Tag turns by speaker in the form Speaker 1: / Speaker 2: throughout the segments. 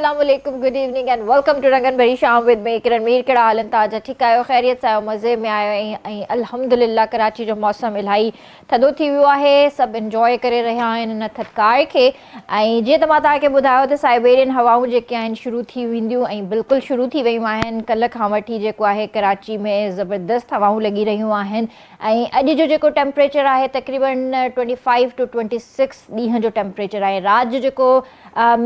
Speaker 1: السلام عليڪم good evening and welcome to رنگن ڀري شام وٿ مي ڪرن مير ڪهڙا حال انتا جا ٺيڪ آهيو خيريت سان آهيو مزي ۾ آهيو ۽ الحمدلله ڪراچي جو موسم الاهي ٿڌو ٿي ويو آهي سڀ انجوء ڪري رهيا آهن ان ٿڌڪاء کي ۽ جيئن ته مان توهان کي ٻڌايو ته سائبيرين هوائون جيڪي آهن شروع ٿي وينديون ۽ بلڪل شروع ٿي ويون آهن ڪلهه کان وٺي جيڪو آهي ڪراچي ۾ زبردست هوائون لڳي رهيون آهن ۽ اڄ جو جيڪو ٽيمپريچر آهي تقريبن twenty five to twenty six ڏينهن جو ٽيمپريچر آهي رات جو جيڪو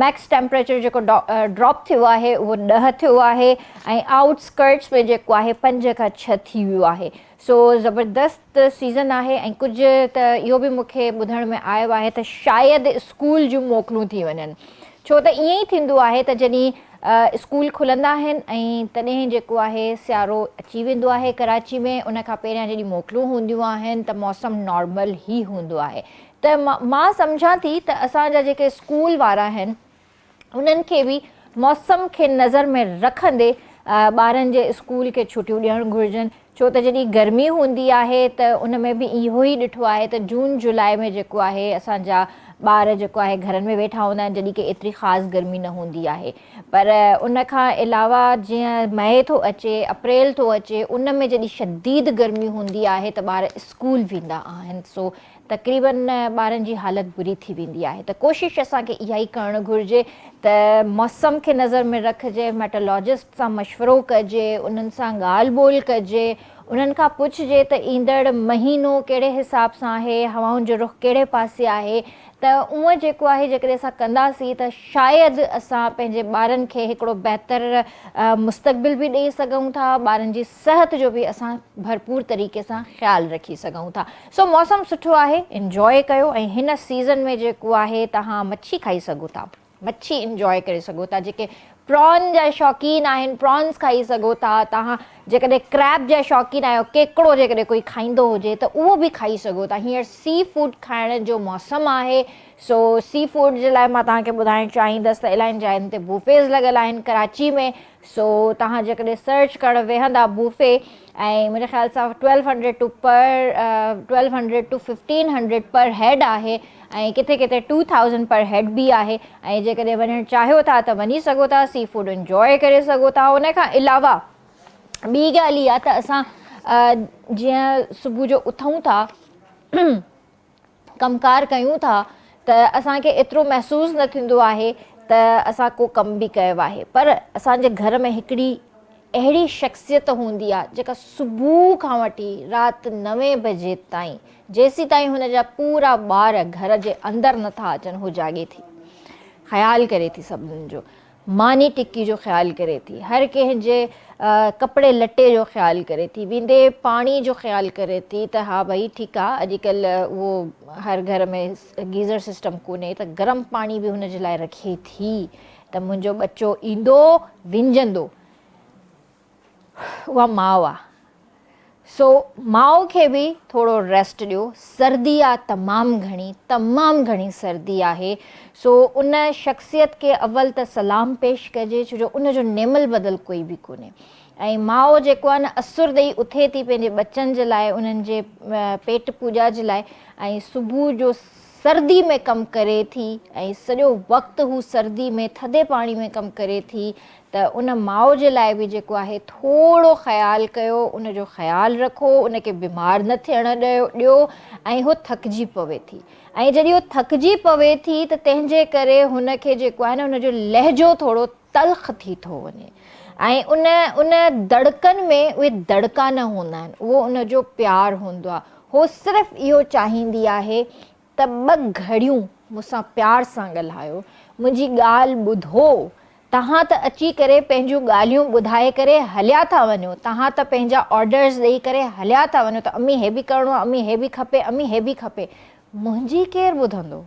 Speaker 1: ميڪس ٽيمپريچر جيڪو ڊراپ ٿيو آهي اهو ڏهه ٿيو آهي ۽ آئوٽ اسڪرٽس ۾ جيڪو آهي پنج کان ڇهه ٿي ويو آهي سو زبردست ته سيزن آهي ۽ ڪجهه ته اهو به مون کي ٻڌڻ ۾ آيو آهي ته شايد اسڪول جون موڪلون ٿي وڃن ڇو ته ائين ئي ٿيندو آهي ته جڏهن اسڪول کلندا آهن ۽ تڏهن جيڪو آهي سيارو اچي ويندو آهي ڪراچي ۾ ان کان پهريان جڏهن موڪلون هونديون آهن ته موسم نارمل ئي هوندو آهي ته مان سمجهان ٿي ته اسان جا جيڪي اسڪول وارا آهن انهن کي به موسم کي نظر ۾ رکندي ٻارن جي اسڪول کي ڇٽيون ڏيڻ گهرجن ڇو ته جڏهن گرمي هوندي آهي ته ان ۾ به اهو ئي ڏٺو آهي ته جون جولاء ۾ جيڪو آهي اسان جا ٻار جيڪو آهي گهرن ۾ ويٺا هوندا آهن جڏهن ڪي ايتري خاص گرمي نه هوندي آهي پر ان کان علاوه جيئن مئي ٿو اچي اپريل ٿو اچي ان ۾ جڏهن شديد گرمي هوندي آهي ته ٻار اسڪول ويندا آهن سو تقريبن ٻارن جي حالت بري ٿي ويندي آهي ته ڪوشش اسان کي اها ئي ڪرڻ گهرجي ته موسم کي نظر ۾ رکجي، ميٽالاجسٽ سان مشورو ڪجي، انهن سان ڳالهه ٻولهه ڪجي، انهن کان پڇجي ته ايندڙ مهينو ڪهڙي حساب سان آهي، هوائن جو رخ ڪهڙي پاسي آهي ته اونء جيڪو آهي جيڪڏهن اسان ڪنداسين ته شايد اسان پنهنجي ٻارن کي هڪڙو بهتر مستقبل به ڏئي سگهون ٿا، ٻارن جي صحت جو به اسان ڀرپور طريقي سان خيال رکي سگهون ٿا سو موسم سٺو آهي انجواء ڪيو ۽ هن سيزن ۾ جيڪو آهي تهان مڇي کائي سگهو ٿا مڇي انجواء ڪري سگهو ٿا جيڪي پران جا شوقين آهن پرانس کائي سگهو ٿا تهان جيڪڏهن ڪريب جا شوقين آهيو ڪيڪڙو جيڪڏهن ڪوئي کائيندو هجي ته اهو به کائي سگهو ٿا هينئر سي فوڊ کائڻ جو موسم آهي سو سي فوڊ جي لاء مان توهان کي ٻڌائڻ چاهيندس ته الائين جاين تي بوفيز لڳل آهن ڪراچي ۾ سو توهان جيڪڏهن سرچ ڪرڻ ويهندا بوفي ۽ منهنجي خيال سان twelve hundred to per twelve hundred to fifteen hundred per head آهي ۽ ڪٿي ڪٿي ٽو ٿائوزنڊ پر هيڊ به آهي ۽ جيڪڏهن وڃڻ چاهيو ٿا ته وڃي سگهو ٿا سي فوڊ انجواء ڪري سگهو ٿا ان کان علاوه ٻي ڳالهه اها ته اسان جيئن صبح جو اٿون ٿا ڪم ڪار ڪيون ٿا ته اسان کي ايترو محسوس نه ٿيندو آهي ته اسان ڪو ڪم به ڪيو آهي پر اسان جي گهر ۾ هڪڙي اهڙي شخصيت هوندي آهي جيڪا صبح کان وٺي رات نوين بجي تائين جيسيتائين هن جا پورا ٻار گهر جي اندر نٿا اچن هو جاڳي ٿي خيال ڪري ٿي سڀنن جو ماني ٽڪي جو خيال ڪري ٿي، هر ڪنهن جي ڪپڙي لٽي جو خيال ڪري ٿي، ويندي پاڻي جو خيال ڪري ٿي ته ها ڀئي ٺيڪ آ اڄ ڪلهه اهو هر گهر ۾ گيزر سسٽم ڪونهي ته گرم پاڻي به هن جي لاء رکي ٿي ته منهنجو ٻچو ايندو ونجهندو. اها ماء آ سو ماء کي به ٿورو ريسٽ ڏيو سردي آ تمام گهڻي تمام گهڻي سردي آهي سو ان شخصيت کي اول ته سلام پيش ڪجي ڇو جو ان جو نعمل بدل ڪوئي به ڪونهي ۽ ماء جيڪو آ نه اسر ڏئي اٿي ٿي پنهنجي ٻچن جي لاء انهن جي پيٽ پوڄا جي لاء ۽ صبح جو سردي ۾ ڪم ڪري ٿي ۽ سڄو وقت هو سردي ۾ ٿڌي پاڻي ۾ ڪم ڪري ٿي ته ان ماء جي لاء به جيڪو آهي ٿورو خيال ڪيو، ان جو خيال رکو، ان کي بيمار نه ٿيڻ ڏيو ۽ هو ٿڪجي پوي ٿي ۽ جڏهن هو ٿڪجي پوي ٿي ته تنهن جي ڪري هن کي جيڪو آهي نه ان جو لهجو ٿورو تلخ ٿي ٿو وڃي ۽ ان ان دڙڪن ۾ اهي دڙڪا نه هوندا آهن اهو ان جو پيار هوندو آهي هو صرف اهو چاهيندي آهي ته ٻه گهڙيون مون سان پيار سان ڳالهايو، منهنجي ڳالهه ٻڌو، توهان ته اچي ڪري پنهنجون ڳالهيون ٻڌائي ڪري هليا ٿا وڃو، توهان ته پنهنجا آرڊرز ڏئي ڪري هليا ٿا وڃو ته امي هي به ڪرڻو آهي، امي هي به کپي، امي هي به کپي، منهنجي ڪير ٻڌندو؟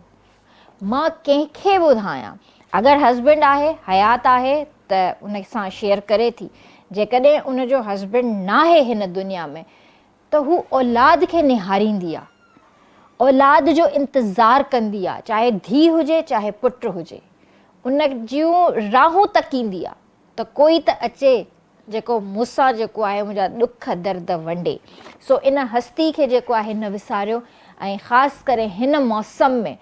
Speaker 1: مان ڪنهن کي ٻڌايان؟ اگر هسبنڊ آهي، حيات آهي ته ان سان شيئر ڪري ٿي، جيڪڏهن ان جو هسبنڊ ناهي هن دنيا ۾ ته هو اولاد کي نهاريندي آ، اولاد جو انتظار ڪندي آ، چاهي ڌيء هجي چاهي پٽ هجي، ان جون راهون تڪيندي آ ته ڪوئي ته اچي جيڪو مون سان جيڪو آهي منهنجا ڏک درد ونڊي. سو ان هستي کي جيڪو آهي نه وساريو ۽ خاص ڪري هن موسم ۾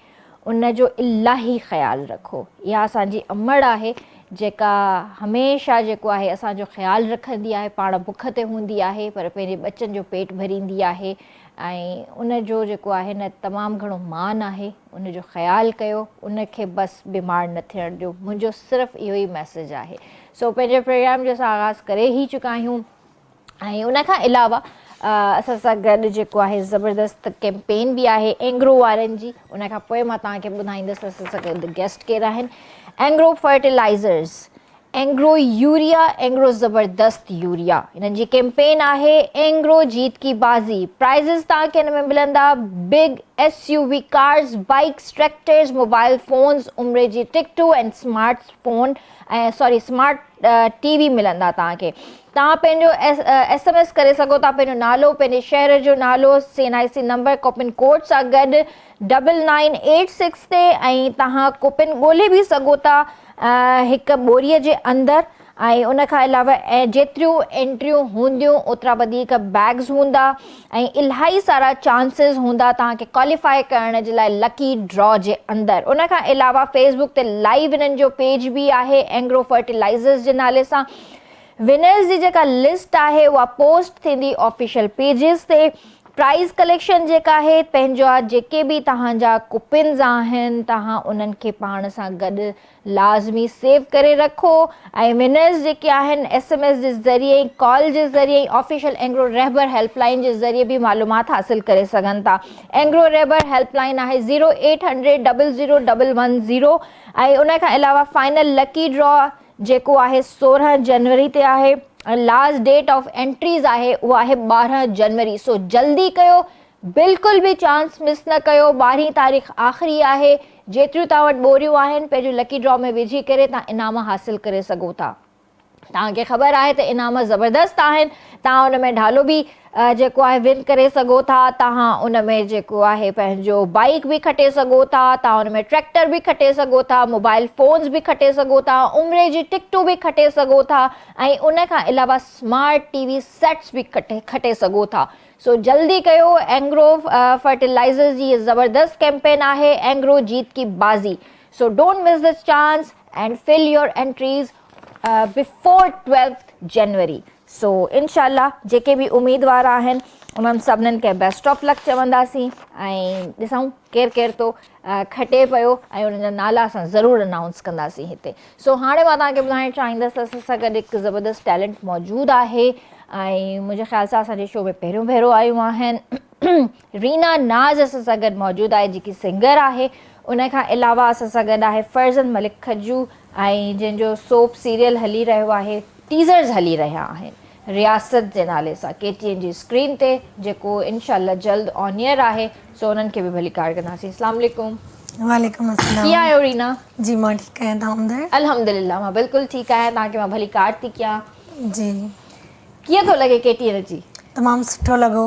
Speaker 1: ان جو الاهي خيال رکو. اها اسان جي امڙ آهي، جيڪا هميشه جيڪو آهي اسان جو خيال رکندي آهي. پاڻ بک تي هوندي آهي پر پنهنجي ٻچن جو پيٽ ڀريندي آهي ۽ ان جو جيڪو آهي نه تمام گهڻو مان آهي. ان جو خيال ڪيو. ان کي بس بيمار نه ٿيڻ ڏيو. منهنجو صرف اهو ئي ميسيج آهي. سو پنهنجي پروگرام جو اسان آغاز ڪري ئي چڪا آهيون. ۽ ان کان علاوه اسان سان گڏ جيڪو آهي زبردست ڪيمپين به آهي اينگرو وارن جي ان کان پوء مان توهان کي ٻڌائيندس اسان سان گڏ گيسٽ ڪير آهن Engro fertilizers Engro urea Engro زبردست يوريا انهن جي ڪيمپين آهي اينگرو جيت کي بازي پرائزز توهان کي ان ۾ ملندا big S U V cars bikes tractors mobile phones عمري جي ٽڪٽون ۽ سمارٽ فون ساري سمارٽ ٽي وي ملندا توهان کي توهان پنهنجو ايس ايم ايس ڪري سگهو ٿا پنهنجو نالو پنهنجي شهر جو نالو C N I C number coupon code سان گڏ ڊبل نائن ايٽ سڪس تي ۽ توهان ڪوپن ڳولي به سگهو ٿا هڪ ٻوري جي اندر ۽ ان کان علاوه جيتريون انٽريون هونديون اوترا وڌيڪ بيگز هوندا ۽ الائي سارا چانسز هوندا توهان کي ڪواليفائي ڪرڻ جي لاء لڪي ڊرا جي اندر ان کان علاوه فيسبوڪ تي لائيو انهن جو پيج به آهي اينگرو فرٽيلائيزرز جي نالي سان ونرز جي جيڪا لسٽ آهي اها پوسٽ ٿيندي آفيشل پيجز تي. پرائيز ڪليڪشن جيڪا آهي پنهنجا جيڪي به توهان جا ڪوپنز آهن توهان انهن کي پاڻ سان گڏ لازمي سيو ڪري رکو ۽ ونرز جيڪي آهن ايس ايم ايس جي ذريعي ڪال جي ذريعي official Engro Rahbar helpline جي ذريعي به معلومات حاصل ڪري سگهن ٿا اينگرو رهبر هيلپ لائين آهي zero eight hundred double zero double one zero ۽ ان کان علاوه فائنل لڪي ڊرا جيڪو آهي سورهن جنوري تي آهي ۽ لاسٽ ڊيٽ آف انٽريز آهي اهو آهي ٻارهن جنوري سو جلدي ڪيو بلڪل به چانس مس نه ڪيو ٻارهين تاريخ آخري آهي جيتريون توهان وٽ ٻوريون آهن پنهنجو لڪي ڊرا ۾ وجهي ڪري توهان انعام حاصل ڪري سگهو ٿا توهان کي خبر آهي ته انعام زبردست آهن توهان ان ۾ ڍالو به جيڪو آهي ون ڪري سگهو ٿا تهان ان ۾ جيڪو آهي پنهنجو بائيڪ به کٽي سگهو ٿا تهان ان ۾ ٽريڪٽر به کٽي سگهو ٿا موبائل فونز به کٽي سگهو ٿا عمري جي ٽڪٽون به کٽي سگهو ٿا ۽ ان کان علاوه سمارٽ ٽي وي سيٽس به کٽي سگهو ٿا سو جلدي ڪيو اينگرو فرٽيلائزرز جي هي زبردست ڪيمپين آهي اينگرو جيت ڪي بازي so don't miss this chance and fill your entries before twelfth January so انشاء الله جيڪي به اميدوار آهن انهن سڀنن کي بيسٽ آف لڪ چونداسين ۽ ڏسون ڪير ڪير ٿو کٽي پيو ۽ انهن جا نالا اسان ضرور انائونس ڪنداسين هتي سو هاڻي مان توهان کي ٻڌائڻ چاهيندس ته اسان سان گڏ هڪ زبردست ٽيلنٽ موجود آهي ۽ منهنجي خيال سان اسان جي شو ۾ پهريون ڀيرو آيون آهن رينا ناز اسان سان گڏ موجود آهي جيڪي سنگر آهي ان کان علاوه اسان سان گڏ آهي فرزند ملڪ کجو ۽ جنهن جو سوپ سيريل هلي رهيو آهي ٽيزرز هلي رهيا آهن رياست جي نالي سان ڪي ٽي اين جي اسڪرين تي جيڪو انشاء الله جلد آن ايئر آهي سو انهن کي به ڀليڪار ڪنداسين اسلام عليڪم وعليڪم السلام
Speaker 2: ڪيئن آهيو رينا
Speaker 1: جي مان ٺيڪ آهيان
Speaker 2: تون ٻڌاء الحمدلله مان بلڪل
Speaker 1: ٺيڪ آهيان تان کي مان ڀليڪار ٿي ڪيان جي ڪيئن ٿو لڳي ڪي ٽي اين اچي تمام سٺو لڳو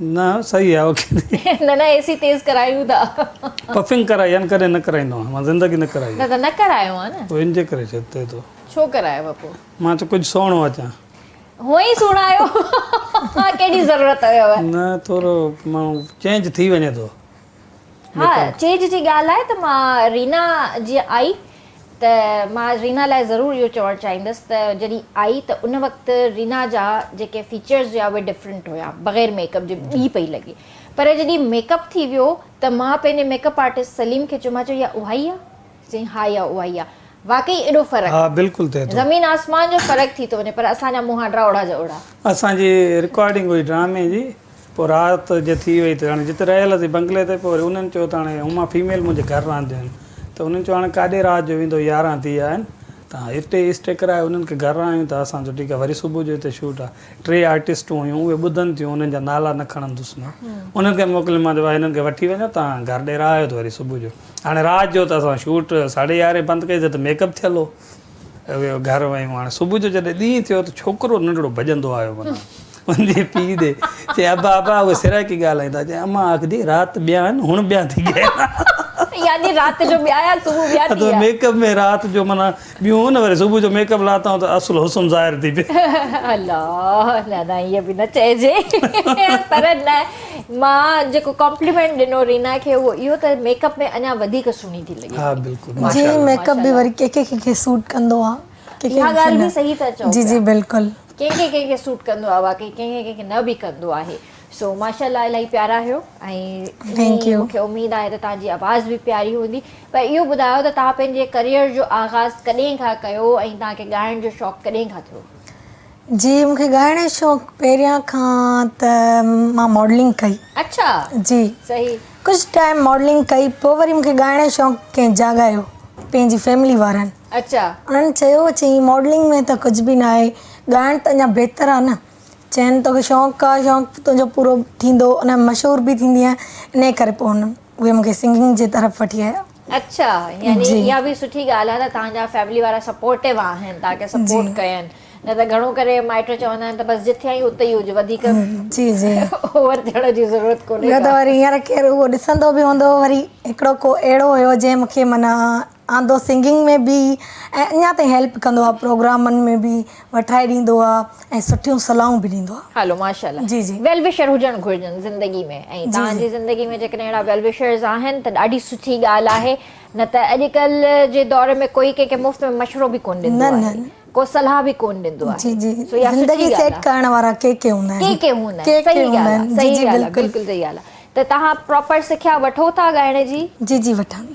Speaker 1: نه
Speaker 3: صحيح آ اوڪي. نه نه اي سي تيز
Speaker 1: ڪرايون ٿا. پفنگ ڪرائي
Speaker 3: آھن ڪڏھن نه ڪرائيندو آھيان مان زندگي نه ڪرائي. نه ته نه ڪرايو
Speaker 1: آ نه. پوء ان جي ڪري ڇا چئي ٿو.
Speaker 3: ڇو ڪرايو پوء.
Speaker 1: مان چيو ڪجھ سهڻو
Speaker 3: اچان. ھونء ئي
Speaker 1: سھڻا آھيو ھا ڪيڏي ضرورت ھيو. نه ٿورو
Speaker 3: ماڻھو چينج ٿي وڃي ٿو. ها
Speaker 1: چيج جي ڳالهه آهي ته مان رينا جيئن آئي ته مان رينا لاء ضرور اهو چوڻ چاهيندس ته جڏهن آئي ته ان وقت رينا جا جيڪي فيچرز هيا اهي ڊفرنٽ هيا بغير ميڪ اپ جي ٻي پئي لڳي پر جڏهن ميڪ اپ ٿي ويو ته مان پنهنجي ميڪ اپ آرٽسٽ سليم کي چيو مان چيو اها اها ئي آهي چيائين، ها اها اها ئي آ. واقعي ايڏو فرق؟ ها بلڪل ٿئي ٿو. زمين
Speaker 3: آسمان جو فرق
Speaker 1: ٿي ٿو وڃي پر اسان جا منهن هاڊرا اوڙا جا اوڙا. اسان جي
Speaker 3: رڪارڊنگ هئي ڊرامي جي پوء رات جي ٿي وئي ته هاڻي جتي رهيل هئاسين بنگلي تي پوء وري انهن چيو ته هاڻي هما فيميل منهنجي گهر رهنديون آهن ته انهن چيو هاڻي ڪاڏي رات جو ويندو يارهن ٿي ويا آهن تان هتي اسٽي ڪرائي انهن کي گهر آڻيون ته اسان جو ٺيڪ آهي وري صبح جو هتي شوٽ آهي ٽي آرٽسٽون هيون اهي ٻڌن ٿيون انهن جا نالا نه کڻندس مان انهن کي موڪليم مان چيو ڀاء هنن کي وٺي وڃو تان گهر ڏير آهيو ته وري صبح جو هاڻي رات جو ته اسان شوٽ ساڍي يارهين بند ڪئي سي ته ميڪ اپ ٿيل هو گهر ويون هاڻي صبح جو جڏهن ڏينهن ٿيو ته ڇوڪرو ننڍڙو ڀڄندو آيو منا پنھنجي پيء ڏي چيائين، ابا ابا اھي سرائيڪي ڳالھائين ٿا. چيائين، امان آکجي رات ٻيا آھن ھن ٻيا ٿي ڳيا آھن. يعني
Speaker 1: رات جو ٻيا يا صبح ٻيا ٿي ويا. ميڪ اپ ۾ رات
Speaker 3: جو معنيٰ ٻيون ھن وري صبح جو ميڪ اپ لاتائون ته اصل حسن ظاھر ٿي پئي. الا
Speaker 1: نه نه ائين به نه چئجي پر نه مان جيڪو ڪامپليمينٽ ڏنو رينا کي اھو اھو ته ميڪ اپ ۾ اڃا وڌيڪ سھڻي ٿي لڳي. ھا بلڪل ماشاءالله. جي
Speaker 3: ميڪ اپ به وري
Speaker 2: ڪنھن ڪنھن کي سوٽ ڪندو آھي. اھا ڳالھه به صحيح
Speaker 1: ٿا چئو پيا. جي جي بلڪل.
Speaker 2: ڪنهن کي ڪنهن کي سوٽ
Speaker 1: ڪندو آهي واقعي ڪنهن کي ڪنهن کي نه به ڪندو آهي سو ماشاءالله الائي پيارا آهيو ٿينڪ ۽ يو مونکي اميد آهي ته توهان جي آواز به پياري هوندي پر اهو ٻڌايو ته توهان پنهنجي ڪريئر جو آغاز ڪڏهن کان ڪيو ۽ توهان کي ڳائڻ جو شوق ڪڏهن کان ٿيو جي
Speaker 2: مونکي ڳائڻ جو شوق پهريان کان ته مان ماڊلنگ ڪئي اڇا جي صحيح ڪجهه
Speaker 1: ٽائيم
Speaker 2: ماڊلنگ ڪئي پوء وري مونکي ڳائڻ جو شوق ڪنهن جاڳايو پنهنجي فيملي وارن اچا. ان
Speaker 1: چيو چيئي
Speaker 2: ماڊلنگ ۾ ته ڪجهه به ناهي ڳائڻ ته اڃا بهتر آ نه. چين توکي شوق آ شوق تنهنجو پورو ٿيندو ان ۾ مشهور به ٿيندينء انهي ڪري پوء هن اهي مونکي سنگنگ جي طرف وٺي آيا. اچا
Speaker 1: يعني اها به سٺي ڳالهه آ ته توهان جا فيملي وارا سپورٽو آهن توهان کي سپورٽ ڪين نه ته گهڻو ڪري مائٽ چوندا آهن ته بس جتي آهين اتي ئي هج وڌيڪ
Speaker 2: اوور ٿيڻ جي
Speaker 1: ضرورت ڪونهي ڪا. ٻيو ته وري هينئر ڪير
Speaker 2: اهو ڏسندو به هوندو وري هڪڙو ڪو اهڙو هيو جنهن مونکي معنيٰ آندو سنگنگ ۾ به ۽ اڃا تائين هيلپ ڪندو آهي پروگرامن ۾ به وٺائي ڏيندو آهي ۽ سٺيون صلاحون به ڏيندو آهي. هلو ماشاءالله جي جي.
Speaker 1: ويل وشر
Speaker 2: هجڻ گهرجن
Speaker 1: زندگي ۾ ۽ جي توهان جي جي. زندگي ۾ جيڪڏهن اهڙا ويل وشرز آهن ته ڏاڍي سٺي ڳالهه آهي نه ته اڄڪلهه جي دور ۾ ڪوئي ڪنهن کي مفت ۾ مشورو به ڪونه ڏيندو نه نه آهي نه. ڪو صلاح به ڪونه ڏيندو جي آهي جي سو اها سٺي زندگي
Speaker 2: ڳالهه سيٽ آهي ڪرڻ وارا ڪي ڪي هوندا ڪي آهن ڪي هوندا آهن ڪي ڪي صحيح هوندا ڳالهه
Speaker 1: آهن آهي جي صحيح جي ڳالهه آهي بلڪل بلڪل صحيح ڳالهه آهي ته توهان پراپر سکيا وٺو ٿا ڳائڻ جي؟ جي جي وٺان ٿي.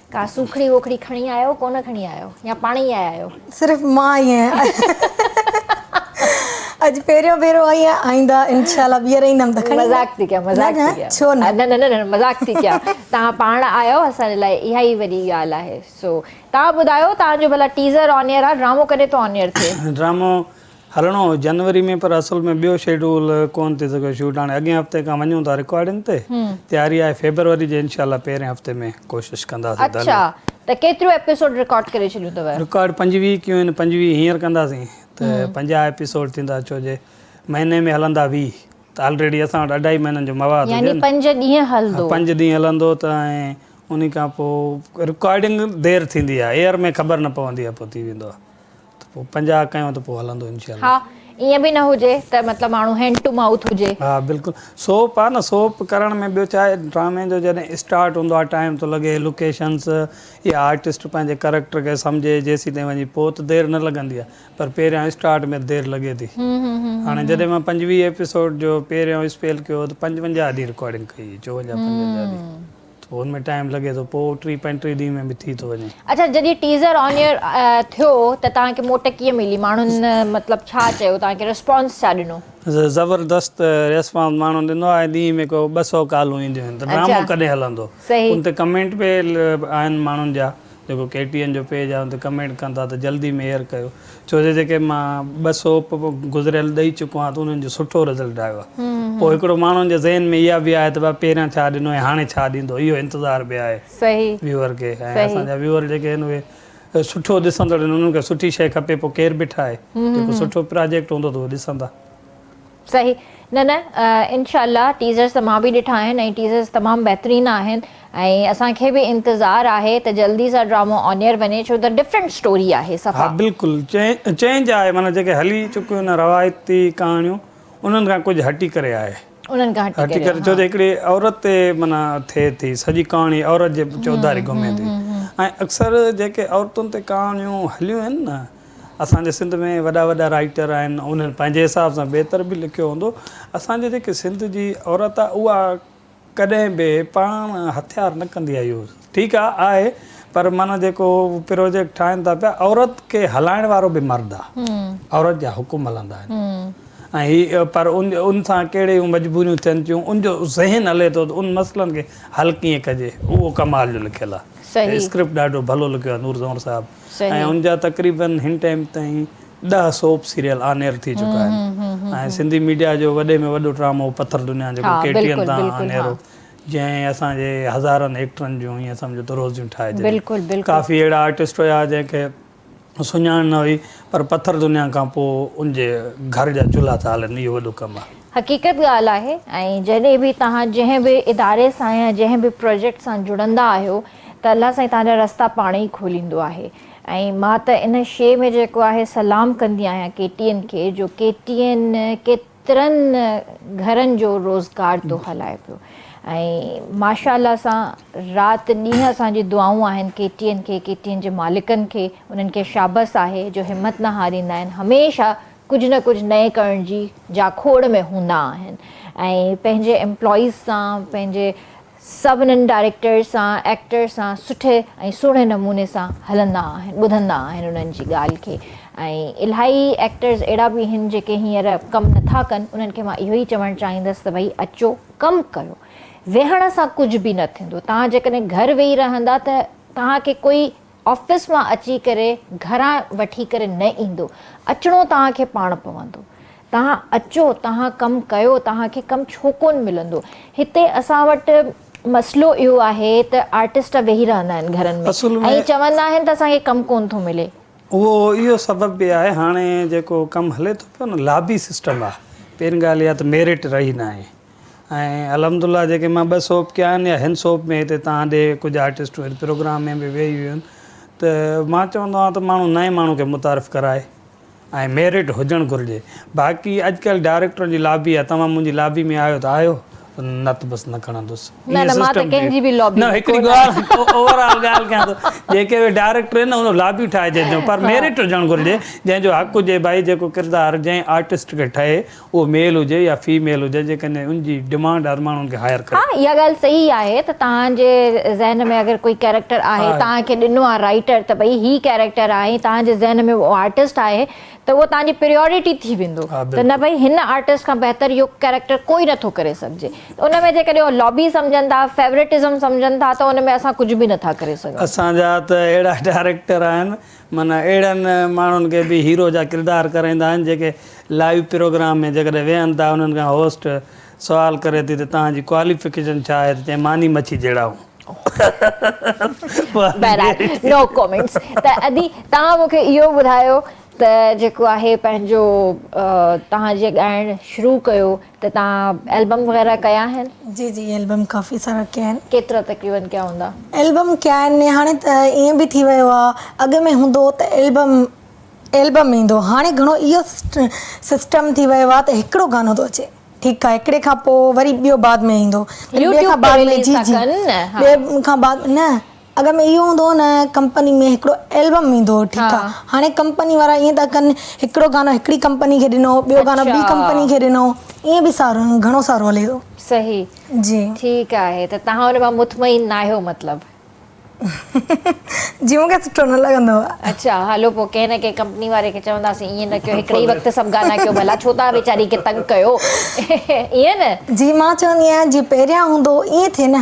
Speaker 1: ڪا سوکڙي ووکڙي کڻي آيا آهيو ڪونه کڻي آيا آهيو يا پاڻ ئي آيا آهيو. صرف مان آئي آهيان.
Speaker 2: اڄ پهريون ڀيرو آئي آهيان آئنده انشاء الله ٻيهر ايندم ته کڻي. مذاق ٿي ڪيان مذاق
Speaker 1: ٿي ڪيان. ڇو نه. نه نه نه
Speaker 2: مذاق ٿي
Speaker 1: ڪيان توهان پاڻ آيا آهيو اسان جي لاء اها ئي وڏي ڳالهه آهي سو توهان ٻڌايو توهان جو ڀلا ٽيزر آن ايئر آهي ڊرامو ڪڏهن ٿو آن ايئر ٿئي. ڊرامو
Speaker 3: هلڻو هو جنوري ۾ پر اصل ۾ ٻيو شيڊول ڪون ٿي سگهيو شوٽ هاڻي اڳئين هفتي کان وڃون ٿا رڪارڊنگ تي تياري آهي فيبروري جي انشاء الله پهرين هفتي ۾ ڪوشش ڪنداسين ته اڇا ته
Speaker 1: ڪيتريون ايپيسوڊ رڪارڊ ڪري ڇڏيون اٿو رڪارڊ پنجويهه ڪيون
Speaker 3: آهن پنجويهه هينئر ڪنداسين ته پنجاهه ايپيسوڊ ٿيندا ڇو جي مهيني ۾ هلندا ويهه ته آلريڊي اسان وٽ اڍائي مهينن جو مواد هجي يعني پنج ڏينهن
Speaker 1: هلندو پنج ڏينهن هلندو ته
Speaker 3: ۽ انهي کان پوء رڪارڊنگ دير ٿيندي آهي ايئر ۾ خبر نه پوندي آهي پوء ٿي ويندو آهي ته پوء پنجاهه ڪيون ته پوء هلندو انشاء الله. ها ائين به نه
Speaker 1: هجي ته مطلب ماڻهو هينڊ ٽو مائوٿ هجي. ها بلڪل
Speaker 3: سوپ آ نه سوپ ڪرڻ ۾ ٻيو ڇا آهي ڊرامي جو جڏهن اسٽارٽ هوندو آ ٽائيم ٿو لڳي لوڪيشنس يا آرٽسٽ پنهنجي ڪريڪٽر کي سمجهي جيسين تائين وڃي پوء ته دير نه لڳندي آ پر پهريان اسٽارٽ ۾ دير لڳي ٿي هاڻي جڏهن مان پنجويهه ايپيسوڊ جو پهريون اسپيل ڪيو هو ته پنجونجاهه ڏينهن رڪارڊنگ ڪئي هئي چوونجاهه پنجونجاهه ڏينهن. ٿو ان ۾ ٽائيم لڳي ٿو پوء ٽي پنٽيهه ڏينهن ۾ به ٿي ٿو وڃي. اڇا جڏهن ٽيزر
Speaker 1: آن ايئر ٿيو ته توهان کي موٽ ڪيئن ملي ماڻهن مطلب ڇا چيو توهان کي ريسپانس ڇا ڏنو. زبردست
Speaker 3: ريسپانس ماڻهن ڏنو آهي ڏينهن ۾ ڪو ٻه سئو ڪالون اينديون آهن ته ڊرامو ڪڏهن هلندو ان تي ڪمينٽ به آهن ماڻهن جا جيڪو ڪي ٽي اين جو پيج آهي ان تي ڪمينٽ ڪن ٿا ته جلدي ۾ ايئر ڪيو ڇو جو جيڪي مان ٻه سوپ گذريل ڏئي چڪو آهيان ته انهن جو سٺو رزلٽ آيو آهي پوء هڪڙو ماڻهن جي ذهن ۾ اها به آهي ته ڀاء پهريان ڇا ڏنو ۽ هاڻي ڇا ڏيندو اهو انتظار به آهي ويوئر کي ۽
Speaker 1: اسان
Speaker 3: جا ويوئر جيڪي آهن اهي سٺو ڏسندڙ آهن انهن کي سٺي شيء کپي پوء ڪير به ٺاهي جيڪو سٺو پراجيڪٽ هوندو ته اهو ڏسندا.
Speaker 1: صحيح نه نه انشاء الله ٽيزرس ته مان به ڏٺا آهن ۽ ٽيزرس تمام بهترين آهن ۽ اسان کي به انتظار آهي ته جلدي سان ڊرامو آن ايئر وڃي ڇو ته ڊفرنٽ اسٽوري آهي صفا. ها بلڪل
Speaker 3: چينج آهي معنيٰ جيڪي هلي چڪيون آهن روايتي ڪهاڻيون انهن کان ڪجهه هٽي ڪري آهي انهن کان هٽي
Speaker 1: ڪري ها. ڇو ته هڪڙي
Speaker 3: عورت تي معنيٰ ٿئي ٿي سڄي ڪهاڻي عورت جي چوڌاري گهمي ٿي ۽ اڪثر جيڪي عورتن تي ڪهاڻيون هليون آهن نه اسان جي سنڌ ۾ وڏا وڏا رائيٽر آهن انهن پنهنجي حساب سان بهتر به لکيو هوندو اسان جي جيڪي سنڌ جي عورت آهي اها ڪڏهن به پاڻ هٿيار نه ڪندي آهي يوز ٺيڪ آهي آهي پر معنيٰ جيڪو پروجيڪٽ ٺاهين ٿا پيا عورت کي هلائڻ وارو به مرد آهي عورت جا حڪم هلندا آهن ۽ هي پر ان ان سان ڪهڙي مجبوريون ٿين ٿيون ان جو ذهن هلي ٿو ته ان مسئلن کي حل ڪيئن ڪجي اهو ڪمال جو لکيل آهي اسڪرپٽ ڏاڍو ڀلو لکيو آهي نور زئور صاحب ۽ ان جا تقريبن هن ٽائيم تائين ڏهه سوپ سيريل آن ايئر ٿي چڪا آهن ۽ سنڌي ميڊيا جو وڏي ۾ وڏو ڊرامو پٿر دنيا جيڪو ڪي ٽي اين تان آن ايئر هو جنهن اسان جي هزارن ايڪٽرن جون ائين سمجهو ته روزيون ٺاهي ڇڏيون ڪافي اهڙا آرٽسٽ هيا جنهن کي سڃاڻ نه هئي پر پٿر دنيا کان پوء ان جي گهر جا چلها ٿا هلن اهو وڏو ڪم آهي. حقيقت ڳالهه آهي
Speaker 1: ۽ جڏهن به توهان جنهن به اداري سان يا جنهن به پروجيڪٽ سان جڙندا آهيو ته الله سائين توهان جا رستا پاڻ ئي کوليندو آهي ۽ مان ته ان شي ۾ جيڪو آهي سلام ڪندي آهيان ڪي ٽي اين کي جو ڪي ٽي اين ڪيترن گهرن جو روزگار ٿو هلائي پيو ۽ ماشا الله سان رات ڏينهن اسان جي دعائون آهن ڪي ٽي اين کي ڪي ٽي اين جي مالڪن کي انهن کي شابس آهي جو همت نه هاريندا آهن هميشه ڪجهه نه ڪجهه نئين ڪرڻ جي جاکوڙ ۾ هوندا آهن ۽ پنهنجي امپلائيز سان پنهنجي سڀنن ڊائريڪٽرز سان ايڪٽرز سان سٺي ۽ سهڻي نموني سان هلندا آهن ٻڌندا آهن انهن جي ڳالهه کي ۽ الائي ايڪٽرز اهڙا به هن جيڪي هينئر ڪم نٿا ڪن انهن کي مان اهو ئي چوڻ چاهيندس ته ڀئي اچو ڪم ڪريو ويهڻ سان ڪجهه به نه ٿيندو توهان جيڪڏهن گهر ويهي رهندا ته توهان کي ڪوئي آفيس مان اچي ڪري گهران وٺي ڪري نه ايندو. اچڻو توهان کي پاڻ پوندو. توهان اچو، توهان ڪم ڪيو، توهان کي ڪم ڇو ڪونه ملندو. هتي اسان وٽ مسئلو اهو آهي ته آرٽسٽ ويهي رهندا آهن گهرن ۾ اصل ۾ ۽ چوندا آهن ته اسان کي ڪم ڪونه ٿو ملي. اهو اهو
Speaker 3: سبب به آهي هاڻي جيڪو ڪم هلي ٿو پيو نه لابي سسٽم آهي. پهرين ڳالهه اها ته ميرٽ رهي ناهي. ۽ الحمد الله جيڪي مان ٻه سوپ ڪيا آهن يا هن سوپ ۾ هتي توهان ڏي ڪجهه آرٽسٽون هن پروگرام ۾ به ويهي هيون ته مان چوندو آهيان ته ماڻهو نئين ماڻهو کي متعارف ڪرائي ۽ ميرٽ هجڻ گهرجي باقي اڄڪلهه ڊائريڪٽرن جي لابي آهي توهان منهنجي لابي ۾ آهيو ته آهيو نه ته بس نه کڻندس نه نه مان ته ڪنهن جي به لابي ۾ ڪونه آهيان نه هڪڙي اوور آل ڳالهه ڪيان ٿو جيڪي به ڊائريڪٽر آهن نه ان لابي ٺاهجي جو پر ميرٽ هجڻ گهرجي جنهن جو حق هجي ڀائي جيڪو ڪردار جنهن آرٽسٽ کي ٺهي اهو ميل هجي يا في ميل هجي جيڪڏهن ان جي ڊمانڊ هر ماڻهن کي هائر ڪري. ها اها ڳالهه صحيح آهي
Speaker 1: ته توهان جي ذهن ۾ اگر ڪوئي ڪيريڪٽر آهي توهان کي ڏنو آهي رائيٽر ته ڀئي هي ڪيريڪٽر آهي ۽ توهان جي ذهن ۾ اهو آرٽسٽ آهي ته اهو توهان جي پريئورٽي ٿي ويندو ته نه ڀئي هن آرٽسٽ کان بهتر اهو ڪيريڪٽر ڪوئي نه ٿو ڪري سگهجي ته ان ۾ جيڪڏهن اهو لابي سمجهن ٿا فيورٽزم سمجهن ٿا ته ان ۾ اسان ڪجهه به نه ٿا ڪري سگهون. اسان جا ته اهڙا
Speaker 3: ڊائريڪٽر آهن. من اهڙن ماڻهن کي به هيرو جا ڪردار ڪرائيندا آهن جيڪي لائيو پروگرام ۾ جيڪڏهن ويهن ٿا انهن کان هوسٽ سوال ڪري ٿي ته توهان جي ڪواليفڪيشن ڇا آهي ته چئين ماني مڇي جهڙا آهيون.
Speaker 1: بهرحال نو ڪومينٽس ته ادي توهان مون کي اهو ٻڌايو ته جيڪو آهي پنهنجو توهان جي ڳائڻ شروع ڪيو ته توهان البم وغيره ڪيا آهن؟ جي جي البم
Speaker 2: ڪافي سارا ڪيا آهن. ڪيترا تقريبن ڪيا
Speaker 1: هوندا؟ البم ڪيا آهن
Speaker 2: هاڻي ته ائين به ٿي ويو آهي اڳ ۾ هوندو هو ته البم البم ايندو هاڻي گهڻو اهو سسٽم ٿي ويو آهي ته هڪڙو گانو ٿو اچي ٺيڪ آهي هڪڙي کان پوء وري ٻيو بعد ۾ ايندو وري ٻئي کان بعد ۾ جي جي ٻئي کان بعد نه اڳ ۾ اهو هوندو هو نه ڪمپني ۾ هڪڙو البم ايندو هو ٺيڪ آ هاڻي ڪمپني وارا ائين ٿا ڪن هڪڙو گانو هڪڙي ڪمپني کي ڏنو ٻيو گانو ٻي ڪمپني کي ڏنو ائين به سارو گهڻو سارو هلي ٿو صحيح جي
Speaker 1: ٺيڪ
Speaker 2: آهي ته
Speaker 1: توهان ان مان مطمئن ناهيو مطلب
Speaker 2: جي مون کي سٺو نه لڳندو آ اڇا هلو پو ڪنهن
Speaker 1: نه ڪنهن ڪمپني واري کي چونداسين ائين نه ڪيو هڪڙي ئي وقت سڀ گانا ڪيو ڀلا ڇو ٿا ويچاري کي تنگ ڪيو ائين نه جي مان چوندي آهيان جي
Speaker 2: پهريان هوندو هو ائين ٿئي نه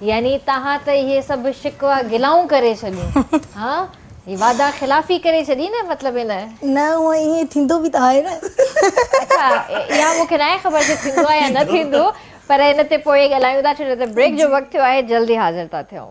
Speaker 1: يعني توهان ته اهي سڀ شڪوه گلائون ڪري ڇڏيون ها هي وعده خلافي ڪري ڇڏي نه مطلب هن. نه هونء ائين
Speaker 2: ٿيندو به ته آهي نه.
Speaker 1: اڇا اها مون کي ناهي خبر جو ٿيندو آهي يا نه ٿيندو پر ان تي پوء ڳالهايون ٿا ڇو جو ته بريڪ جو وقت ٿيو آهي جلدي حاضر ٿا ٿيون.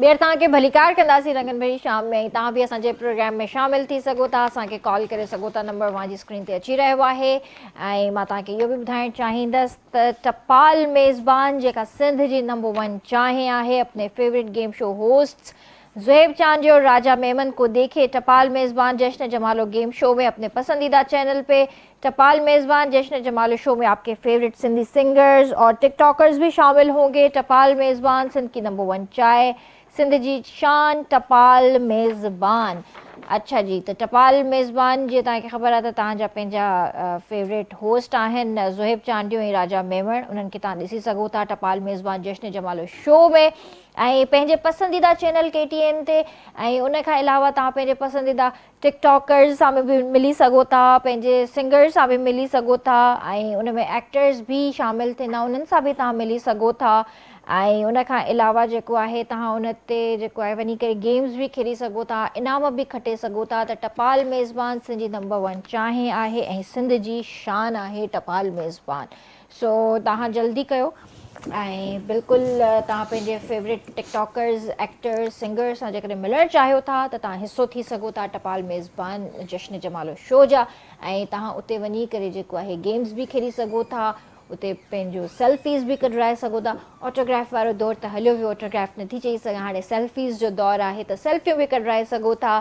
Speaker 1: ٻيهر توهان کي ڀليڪار ڪنداسين رنگن ڀري شام ۾ ۽ توهان به اسان جي پروگرام ۾ شامل ٿي سگهو ٿا اسان کي ڪال ڪري سگهو ٿا نمبر اوهان جي اسڪرين تي اچي رهيو آهي ۽ مان توهان کي اهو به ٻڌائڻ چاهيندس ته ٽپال ميزبان جيڪا سنڌ جي نمبر ون چانهه آهي اپني favourite game show hostess Zuhaib Chandio Raja Memon ڪو ديکي ٽپال ميزبان جشن جمالو گيم شو ۾ اپني پسنديده چينل پي ٽپال ميزبان جشن جمالو شو ۾ آپڪي فيوريٽ سنڌي سنگرز اور ٽڪ ٽاڪرز بي شامل هونگي ٽپال ميزبان سنڌ ڪي نمبر ون چائي سنڌ جي شان ٽپال ميزبان اڇا جي ته ٽپال ميزبان جي تان کي خبر آهي ته تان جا پنهنجا فيوريٽ هوسٽ آهن زويب چانڊيو ۽ راجا ميمڻ انهن کي تان ڏسي سگهو ٿا ٽپال ميزبان جشن جمالو شو ۾ ۽ پنهنجي پسنديده چينل ڪي ٽي اين تي ۽ ان کان علاوه توهان پنهنجي پسنديده ٽڪ ٽاڪرز سان به ملي سگهو ٿا پنهنجي سنگرز سان به ملي سگهو ٿا ۽ ان ۾ ايڪٽرز به شامل ٿيندا انهن سان به توهان ملي سگهو ٿا ۽ ان کان علاوه جيڪو آهي توهان ان تي جيڪو آهي وڃي ڪري گيمز به کيڏي سگهو ٿا انعام به کٽي سگهو ٿا ته ٽپال ميزبان سنڌ جي نمبر ون چانهه آهي ۽ سنڌ جي شان آهي ٽپال ميزبان سو توهان جلدي ڪيو ۽ بلڪل توهان پنهنجي favourite TikTokers actors singers سان جيڪڏهن ملڻ چاهيو ٿا ته توهان حصو ٿي سگهو ٿا ٽپال ميزبان جشن جمالو شو جا ۽ توهان اتي وڃي ڪري جيڪو آهي گيمز به کيڏي سگهو ٿا اتي پنهنجو سيلفيز به ڪڍرائي سگهو ٿا آٽوگراف وارو دور ته هليو ويو آٽوگراف نٿي چئي سگهان هاڻي سيلفيز جو دور آهي ته سيلفيون به ڪڍرائي سگهو ٿا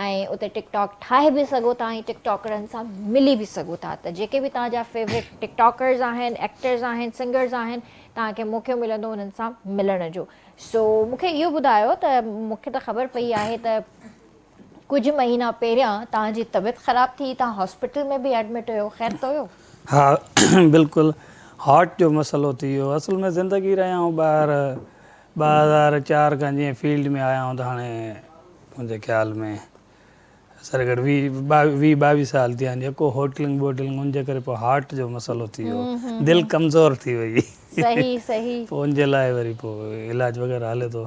Speaker 1: ۽ اتي ٽڪ ٽاڪ ٺاهي به سگهو ٿا ۽ ٽڪ ٽاڪرن سان ملي به سگهو ٿا ته جيڪي به توهان جا فيورٽ ٽڪ ٽاڪرز آهن ايڪٽرز آهن سنگرز آهن توهان کي موقعو ملندو انهن سان ملڻ جو سو مون کي اهو ٻڌايو ته مون کي ته خبر پئي آهي ته ڪجهه مهينا پهريان توهان جي طبيعت خراب ٿي توهان هاسپيٽل ۾ به ايڊمٽ هيو خير ته هيو؟ ها
Speaker 3: بلڪل هارٽ جو مسئلو ٿي ويو اصل ۾ زندگي رهيا آهيون ٻاهر ٻه هزار چار کان جيئن فيلڊ ۾ آيا آهيون ته هاڻي منهنجي خيال ۾ سر گهٽ ويهه ويهه ٻاويهه سال ٿيا آهن جيڪو هوٽلنگ ووٽلنگ ان جي ڪري پوء هارٽ جو مسئلو ٿي ويو دل ڪمزور ٿي وئي صحيح صحيح
Speaker 1: پوء ان جي لاء وري
Speaker 3: پوء علاج وغيره هلي ٿو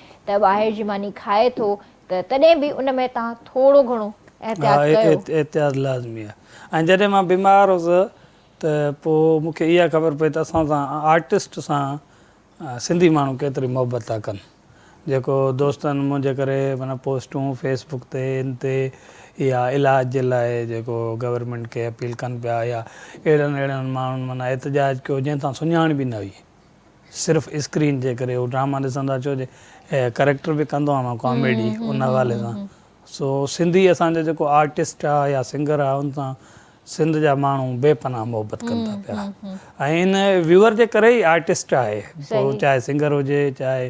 Speaker 1: ته ٻاهر جي ماني کائي ٿو ته تڏهن به ان ۾ توهان ٿورو گهڻو احتياط ڪيو. ها
Speaker 3: احتياط لازمي آهي ۽ جڏهن مان بيمار هوس ته پوء مون کي اها خبر پئي ته اسان سان آرٽسٽ سان سنڌي ماڻهو ڪيتري محبت ٿا ڪن جيڪو دوستن منهنجي ڪري معنيٰ پوسٽون فيس بڪ تي ان تي يا علاج جي لاء جيڪو گورنمينٽ کي اپيل ڪن پيا يا اهڙن اهڙن ماڻهن معنيٰ احتجاج ڪيو جنهن سان سڃاڻ به نه هئي. صرف اسڪرين جي ڪري هو ڊراما ڏسندا ڇو جي ڪريڪٽر به ڪندو آهيان مان ڪاميڊي ان حوالي سان سو سنڌي اسان جو جيڪو آرٽسٽ آهي يا سنگر آهي ان سان سنڌ جا ماڻهو بي پناهه محبت ڪن ٿا پيا ۽ ان ويور جي ڪري ئي آرٽسٽ آهي پوء چاهي سنگر هجي چاهي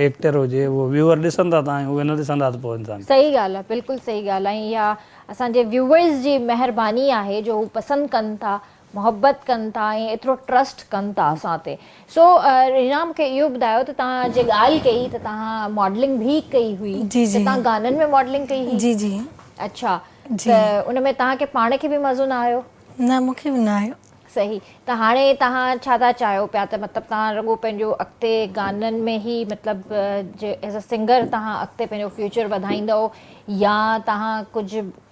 Speaker 3: ايڪٽر هجي اهو ويور ڏسندا ته آهيون اهي نه ڏسندا ته پوء انسان صحيح ڳالهه آهي بلڪل صحيح
Speaker 1: ڳالهه آهي اها اسان جي ويورز جي مهرباني آهي جو هو پسند ڪن ٿا محبت ڪن ٿا ۽ ايترو ٽرسٽ ڪن ٿا اسان تي سو رينا مونکي اهو ٻڌايو ته تان جي ڳالهه ڪئي ته تان ماڊلنگ به ڪئي هئي جي جي ته تان گانن ۾
Speaker 2: ماڊلنگ
Speaker 1: ڪئي هئي جي جي اڇا جي ته ان ۾ تان کي پاڻ کي به مزو نه آيو نه مونکي به
Speaker 2: نه آيو. صحيح ته
Speaker 1: هاڻي تان ڇا ٿا چاهيو پيا ته مطلب تان رڳو پنهنجو اڳتي گانن ۾ هي مطلب جي ايز ا سنگر تان اڳتي پنهنجو فيوچر وڌائيندو يا تان ڪجهه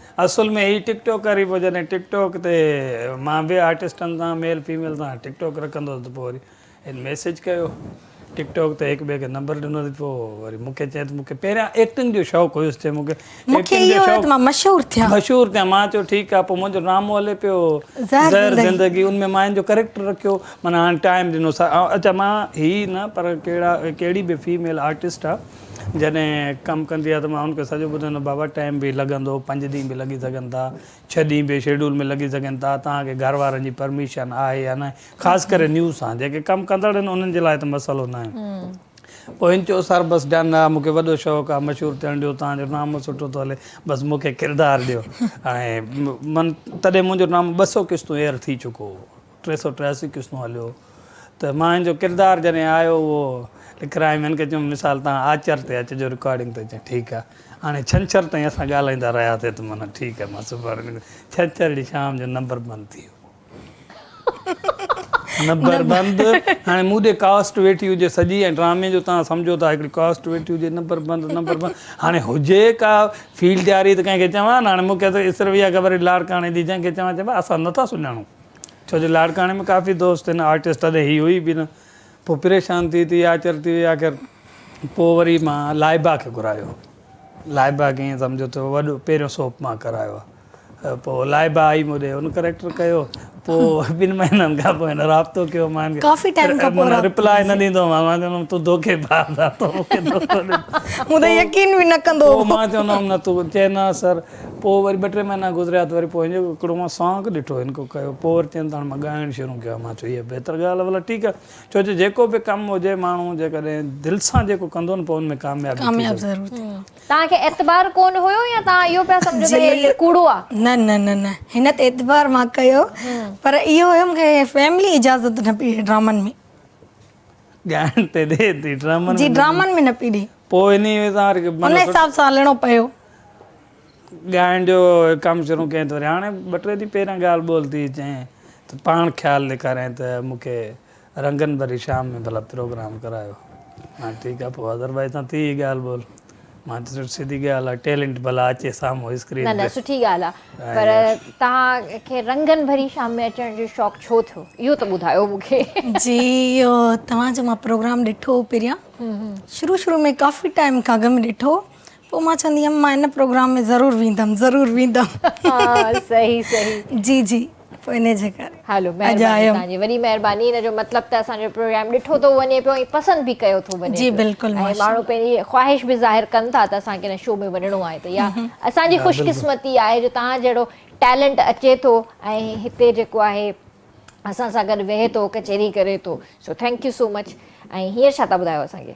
Speaker 2: اصل ۾
Speaker 3: هي ٽڪ ٽاڪر ئي پوء جڏهن ٽڪ ٽاڪ تي مان ٻين آرٽسٽن سان ميل فيميل سان ٽڪ ٽاڪ رکندو هوس ته پوء وري هن ميسيج ڪيو ٽڪ ٽاڪ تي هڪ ٻئي کي نمبر ڏنو ته پوء وري مون کي چيائين ته مون کي پهريان ايڪٽنگ جو شوق هيس چيائين مون کي مون کي اهو هيو ته
Speaker 2: مان مشهور
Speaker 3: ٿيان
Speaker 2: مشهور ٿيان مان چيو
Speaker 3: ٺيڪ آهي پوء منهنجو ڊرامو هلي پيو زهر
Speaker 2: زندگي ان ۾
Speaker 3: مان هن جو ڪريڪٽر رکيو معنيٰ هاڻي ٽائيم ڏنو سا اچا مان هي نه پر ڪهڙا ڪهڙي به فيميل آرٽسٽ آهي جڏهن ڪم ڪندي آهي ته مان هن کي سڄو ٻڌندو آهيان، بابا ٽائيم به لڳندو، پنج ڏينهن به لڳي سگهن ٿا، ڇهه ڏينهن به شيڊول ۾ لڳي سگهن ٿا، توهان کي گهر وارن جي پرميشن آهي يا نه، خاص ڪري نيو سان، جيڪي ڪم ڪندڙ آهن انهن جي لاء ته مسئلو ناهي. پوء هن چيو سر بس ڊن، نه مون کي وڏو شوق آهي مشهور ٿيڻ جو، توهان جو نامو سٺو ٿو هلي، بس مون کي ڪردار ڏيو. ۽ من تڏهن منهنجو نامو ٻه سؤ قسطون ايئر ٿي چڪو هو. ٽي سؤ ٽياسي قسطون هليو ته مان هن جو ڪردار جڏهن آيو اهو لکرايم هن کي چيم مثال تان آچر تي اچجو رڪارڊنگ تي چيائين ٺيڪ آهي هاڻي ڇنڇر تائين اسان ڳالهائيندا رهياسي ته منا ٺيڪ آهي مان سڀاڻي نڪري ڇنڇر ڏينهن شام جو نمبر بند ٿي ويو نمبر بند هاڻي مون ڏي ڪاسٽ ويٺي هجي سڄي ۽ ڊرامي جو تان سمجهو ٿا هڪڙي ڪاسٽ ويٺي هجي نمبر بند نمبر بند هاڻي هجي ڪا فيلڊ جاري ته ڪنهن کي چوان نه هاڻي مون کي ته اسرويا خبر هئي لاڙڪاڻي جي جنهن کي چوان چئبو آهي اسان نٿا سڃاڻون ڇو جو لاڙڪاڻي ۾ ڪافي دوست هن آرٽسٽ تڏهن هي هئي به نه پوء پريشان ٿي ٿي آچر ٿي وئي آخر پوء وري مان لائبا کي گهرايو لائبا کي ائين سمجهو ته وڏو پهريون سوپ مان ڪرايو آهي پوء لائبا آئي مون ڏي هن ڪريڪٽر ڪيو پوء ٻن مهينن کان پوء هن رابطو ڪيو مان ڪافي ٽائيم کان پوء رابطو
Speaker 2: ريپلاء نه ڏيندو هومانس
Speaker 3: مان چوندو هوم تون دوکي باز آهين تون مون کي دوکو ڏنو مون تي يقين
Speaker 2: به نه ڪندو هو پوء مان چوندو هوم نه
Speaker 3: تون چئه نه سر پوء وري ٻه ٽي مهينا گذريا ته وري پوء هن جو هڪڙو مان سانگ ڏٺو هن ڪو ڪيو پوء وري چين ته هاڻي مان ڳائڻ شروع ڪيو آهي مان چيو اها بهتر ڳالهه آهي ڀلا ٺيڪ آهي ڇو جو جيڪو به ڪم هجي ماڻهو جيڪڏهن دل سان جيڪو ڪندو نه پوء ان ۾ ڪاميابي ٿي ضرور ٿي
Speaker 2: توهان کي اعتبار
Speaker 1: ڪون هيو يا توهان اهو پيا سمجهو ته هي ڪوڙو آهي نه نه نه نه
Speaker 2: هن تي اعتبار مان ڪيو پر اهو هيو مون کي فيملي اجازت نه پئي ڏي ڊرامن ۾
Speaker 3: ڳائڻ تي ڏي ٿي ڊرامن جي ۾ ڊرامن ۾ نه پي ڏي
Speaker 2: پوء انهي ۾ تان وري
Speaker 3: ان مطلب حساب سان هلڻو
Speaker 2: پيو.
Speaker 3: ڳائڻ جو ڪم شروع ڪيائين ته وري هاڻي ٻه ٽي ڏينهن پهريان ڳالهه ٻولهه ٿي چيائين ته پاڻ خيال ڏيکاريائين ته مون کي رنگن ڀري شام ۾ ڀلا پروگرام ڪرايو مانيو ٺيڪ آهي پوء اظهر ڀائي سان ٿي هئي ڳالهه ٻولهه مان ته چيم سڌي ڳالهه آ ٽيلنٽ ڀلا اچي سامهون اسڪرين نه نه سٺي ڳالهه آ
Speaker 1: پر توهان کي رنگن ڀري شام ۾ اچڻ جو شوق ڇو ٿيو اهو ته ٻڌايو مون کي جي اهو
Speaker 2: توهان جو مان پروگرام ڏٺو هو پهريان شروع شروع ۾ ڪافي ٽائيم کان اڳ ۾ ڏٺو پوء مان چوندي هيم مان ان پروگرام ۾ ضرور ويندم ضرور ويندم ها
Speaker 1: صحيح صحيح جي جي
Speaker 2: پوء انهي جي ڪري هلو اڄ مهرباني آيم.
Speaker 1: توهانجي وڏي مهرباني ان جو مطلب ته اسان جو پروگرام ڏٺو ٿو وڃي پيو ۽ پسند به ڪيو ٿو وڃي جي پيو بلڪل ۽ ماشاء ماڻهو
Speaker 2: الله پنهنجي
Speaker 1: خواهش به ظاهر ڪن ٿا ته اسان کي ان شو ۾ وڃڻو آهي ته اها اسان جي خوش قسمتي آهي جو توهان جهڙو ٽيلنٽ اچي ٿو ۽ هتي جيڪو آهي اسان سان گڏ ويهي ٿو ڪچهري ڪري ٿو so thank you so much ۽ هينئر ڇا ٿا ٻڌايو اسان کي.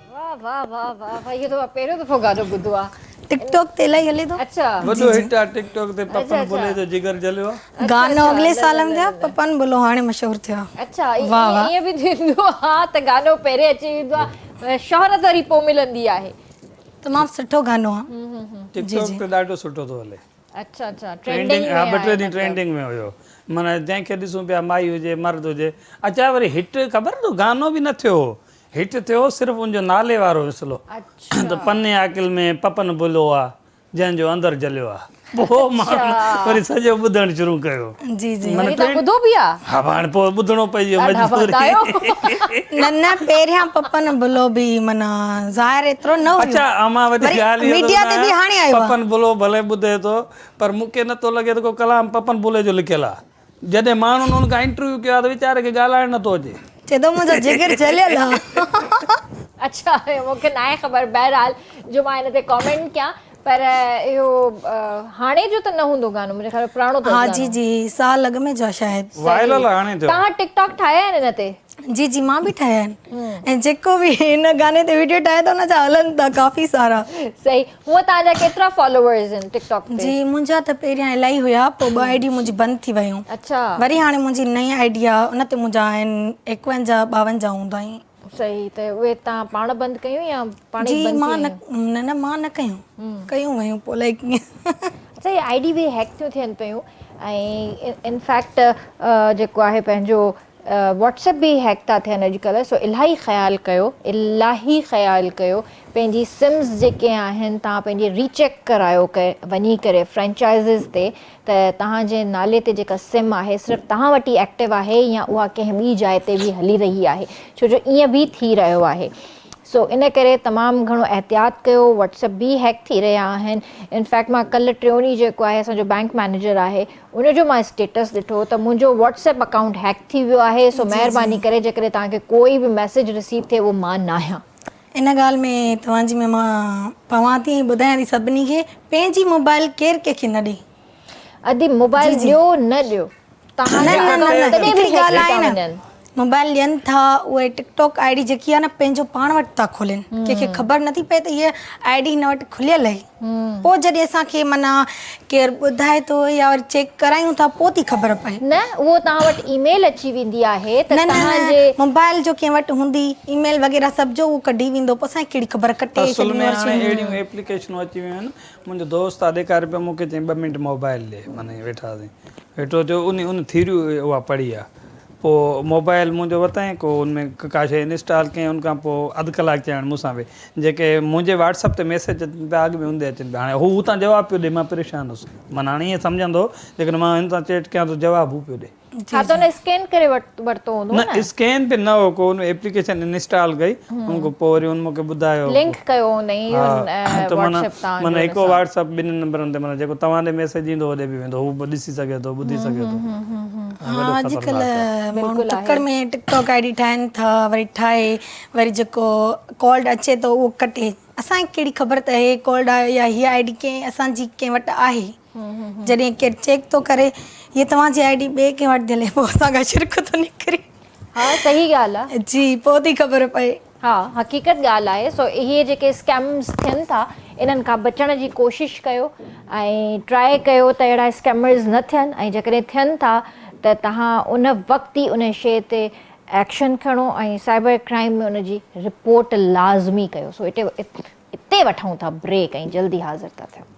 Speaker 1: واه واه واه واه واه اهو ته مان پهريون دفعو گانو ٻڌو آ ٽڪ ٽاڪ تي الائي هلي
Speaker 2: ٿو اچھا وڏو هٽ آ
Speaker 1: ٽڪ
Speaker 3: ٽاڪ تي پپن بلوي جو جگر جليو آ. گانو اڳلي سال ۾
Speaker 2: ٿيا پپن بلو هاڻي مشهور ٿيو آ اچھا ائين
Speaker 1: به ٿيندو آ ته گانو پهرين اچي ويندو آ شهرت وري پو ملندي آهي. تمام
Speaker 3: سٺو
Speaker 2: گانو آ
Speaker 3: ٽڪ
Speaker 2: ٽاڪ تي
Speaker 3: ڏاڍو
Speaker 1: سٺو ٿو
Speaker 2: هلي
Speaker 3: اچھا
Speaker 1: اچھا ٽرينڊنگ ۾ آ ٻه ٽي
Speaker 3: ڏينهن ٽرينڊنگ ۾ هيو معنيٰ جنهن کي ڏسون پيا مائي هجي مرد هجي اچا وري هٽ خبر اٿو گانو به نه ٿيو هو هيٺ ٿيو صرف ان جو نالي وارو وسلو ته پني
Speaker 1: عاقل
Speaker 3: ۾ پپن بلو آ جنهن جو اندر جليو آ پوء ماڻهن وري سڄو ٻڌڻ شروع ڪيو جي جي وري توهان
Speaker 2: ٻڌو به آ
Speaker 3: ها
Speaker 1: هاڻي پوء ٻڌڻو
Speaker 3: پئجي ويو مجبوري
Speaker 1: نه نه
Speaker 2: پهريان پپن بلو به معنيٰ ظاهر ايترو نه هيو اچا امان وڏي ڳالهه
Speaker 3: اهو ميڊيا تي به هاڻي آيو آ پپن
Speaker 2: بلو
Speaker 3: ڀلي
Speaker 2: ٻڌي
Speaker 3: ٿو پر مون کي نٿو لڳي ته ڪو ڪلام پپن بلو جو لکيل آ جڏهن ماڻهن هن کان انٽرويو ڪيو آهي ته ويچاري کي ڳالهائڻ نه ٿو اچي. چئي ٿو منهنجو جگر
Speaker 2: جليل آهي. اڇا
Speaker 1: مون کي ناهي خبر بهرحال جو مان هن تي ڪامينٽ ڪيان پر اهو هاڻي جو ته نه هوندو گانو منهنجي خيال ۾ پراڻو اٿس گانو ها جي جي سال اڳ
Speaker 2: ۾ جو آهي شايد وائرل آهي هاڻي جو توهان
Speaker 3: ٽڪ ٽاڪ ٺاهيا آهن
Speaker 1: هن تي جي جي مان به ٺاهيا
Speaker 2: آهن ۽ جيڪو به هن گاني تي ويڊيو ٺاهي ٿو ان جا هلن ٿا ڪافي سارا صحيح هونء
Speaker 1: توهان جا ڪيترا فالوورز آهن ٽڪ ٽاڪ تي؟ جي منهنجا ته پهريان
Speaker 2: الائي هيا پوء ٻه آئي ڊيون منهنجي بند ٿي ويون اڇا وري هاڻي
Speaker 1: منهنجي نئين
Speaker 2: آئي ڊي آ ان تي منهنجا آهن ايڪونجاهه ٻاونجاهه هوندائين. صحيح ته اهي
Speaker 1: توهان پاڻ بند ڪيون يا پاڻ جي ئي بند مان ٿي
Speaker 2: نه ويون؟ نه
Speaker 1: نه مان نه
Speaker 2: ڪيون ڪيون ويون پوء الائي ڪيئن. اچا هي آئي ڊي
Speaker 1: به هيڪ ٿيون ٿين پيون ۽ ان فيڪٽ جيڪو آهي پنهنجو واٽس ايپ به هيڪ ٿا ٿين اڄ ڪلهه سو الاهي خيال ڪيو الاهي خيال ڪيو پنهنجي سمز جيڪي آهن تهان پنهنجي ري چيڪ ڪرايو وڃي ڪري فرينچائزز تي ته تهان جي نالي تي جيڪا سم آهي صرف تهان وٽ ئي ايڪٽو آهي يا اها ڪنهن ٻي جاء تي به هلي رهي آهي ڇو جو ائين به ٿي رهيو آهي سو ان ڪري تمام گهڻو احتياط ڪيو واٽس ايپ به هيڪ ٿي رهيا آهن انفيڪٽ مان ڪلهه ٽيون ڏينهن جيڪو آهي اسان جو بينڪ مئنيجر آهي ان جو مان اسٽيٽس ڏٺو ته منهنجو واٽس ايپ اڪائونٽ هيڪ ٿي ويو آهي سو مهرباني ڪري جيڪڏهن توهان کي ڪو به ميسيج رسيو ٿئي اهو مان ناهيان. ان ڳالهه ۾
Speaker 2: توهان جي ۾ مان پوان ٿي ۽ ٻڌايان ٿي سڀني کي پنهنجي موبائل ڪير ڪنهن کي نه ڏئي. ادي
Speaker 1: موبائل ڏيو نه ڏيو توهان جا اڪائونٽ تڏهن به هيڪ ٿي ٿا وڃن. موبائل ڏين
Speaker 2: ٿا اهي ٽڪ ٽاڪ آئي ڊي جيڪي آهي نه پنهنجو پاڻ وٽ ٿا کولين ڪنهن کي خبر نٿي پئي ته هي آئي ڊي هن وٽ کليل اهي پوء جڏهن اسان کي معنيٰ ڪير ٻڌائي ٿو يا وري چيڪ ڪرايون ٿا پوء ٿي خبر پئي نه اهو توهان وٽ
Speaker 1: اي ميل اچي ويندي آهي ته توهان جي موبائل
Speaker 2: جو
Speaker 1: ڪنهن وٽ
Speaker 2: هوندي اي ميل وغيره سڀ جو اهو ڪڍي ويندو پوء اسان کي ڪهڙي خبر ڪٽي ڇڏيون اصل ۾ هاڻي
Speaker 3: اهڙيون ايپليڪيشنون اچي ويون آهن منهنجو دوست آهي ڏيکاري پيو مونکي چيائين ٻه منٽ موبائل ڏي معنيٰ ويٺاسين ويٺو ٿيو ان ان ٿيريو اها پڙهي آهي پوء موبائيل منهنجو ورتائين ڪو ان ۾ ڪا شيء انسٽال ڪيائين ان کان پوء اڌ ڪلاڪ چيائين مون سان ويهه جيڪي منهنجي واٽس اپ تي ميسيج اچن پيا اڳ ۾ هوندي اچن پيا هاڻي هو هتان جواب پيو ڏي مان پريشان هوس من هاڻي ائين سمجهان ٿو جيڪڏهن مان هن سان چيٽ ڪيان ٿو جواب هو پيو ڏي. ڇا ته
Speaker 1: هن اسڪين ڪري ورتو هوندو
Speaker 3: نه. نه اسڪين تي نه هو ڪو ان ايپليڪيشن انسٽال ڪئي ان کان پوء وري هن مونکي ٻڌايو. لنڪ ڪيو
Speaker 1: هوندئي واٽس اپ تان.
Speaker 3: معنيٰ هڪ
Speaker 1: واٽس اپ ٻنهي
Speaker 3: نمبرن تي معنيٰ جيڪو توهان ڏي ميسيج ايندو هوڏي به ويندو هو به ڏسي سگهي ٿو ٻڌي سگهي ٿو. ها اڄڪلهه
Speaker 2: ماڻهو تڪڙ ۾ ٽڪ ٽاڪ آئي ڊي ٺاهن ٿا وري ٺاهي وري جيڪو ڪالڊ اچي ٿو اهو ڪٽي اسان کي ڪهڙي خبر ته هي ڪالڊ آيو يا هي آئي ڊي ڪنهن اسان جي ڪنهن وٽ آهي جڏهن ڪير چيڪ ٿو ڪري هي توهان جي آئي ڊي ٻئي ڪنهن وٽ ٿي هلي پوء اسان کان شرڪ ٿو نڪري ها صحيح
Speaker 1: ڳالهه آهي جي پوء ٿي خبر
Speaker 2: پئي ها حقيقت
Speaker 1: ڳالهه آهي سو اهي جيڪي اسڪيمز ٿين ٿا انهن کان بچڻ جي ڪوشش ڪيو ۽ ٽرائي ڪيو ته اهڙا اسڪيمز نه ٿين ۽ جيڪڏهن ٿين ٿا ته تهان ان وقت ئي انهي شي تي ايڪشن کڻو ۽ سائبر ڪرائيم ۾ ان جي رپورٽ لازمي ڪيو سو اتي وٺون ٿا بريڪ ۽ جلدي حاضر ٿا ٿيون.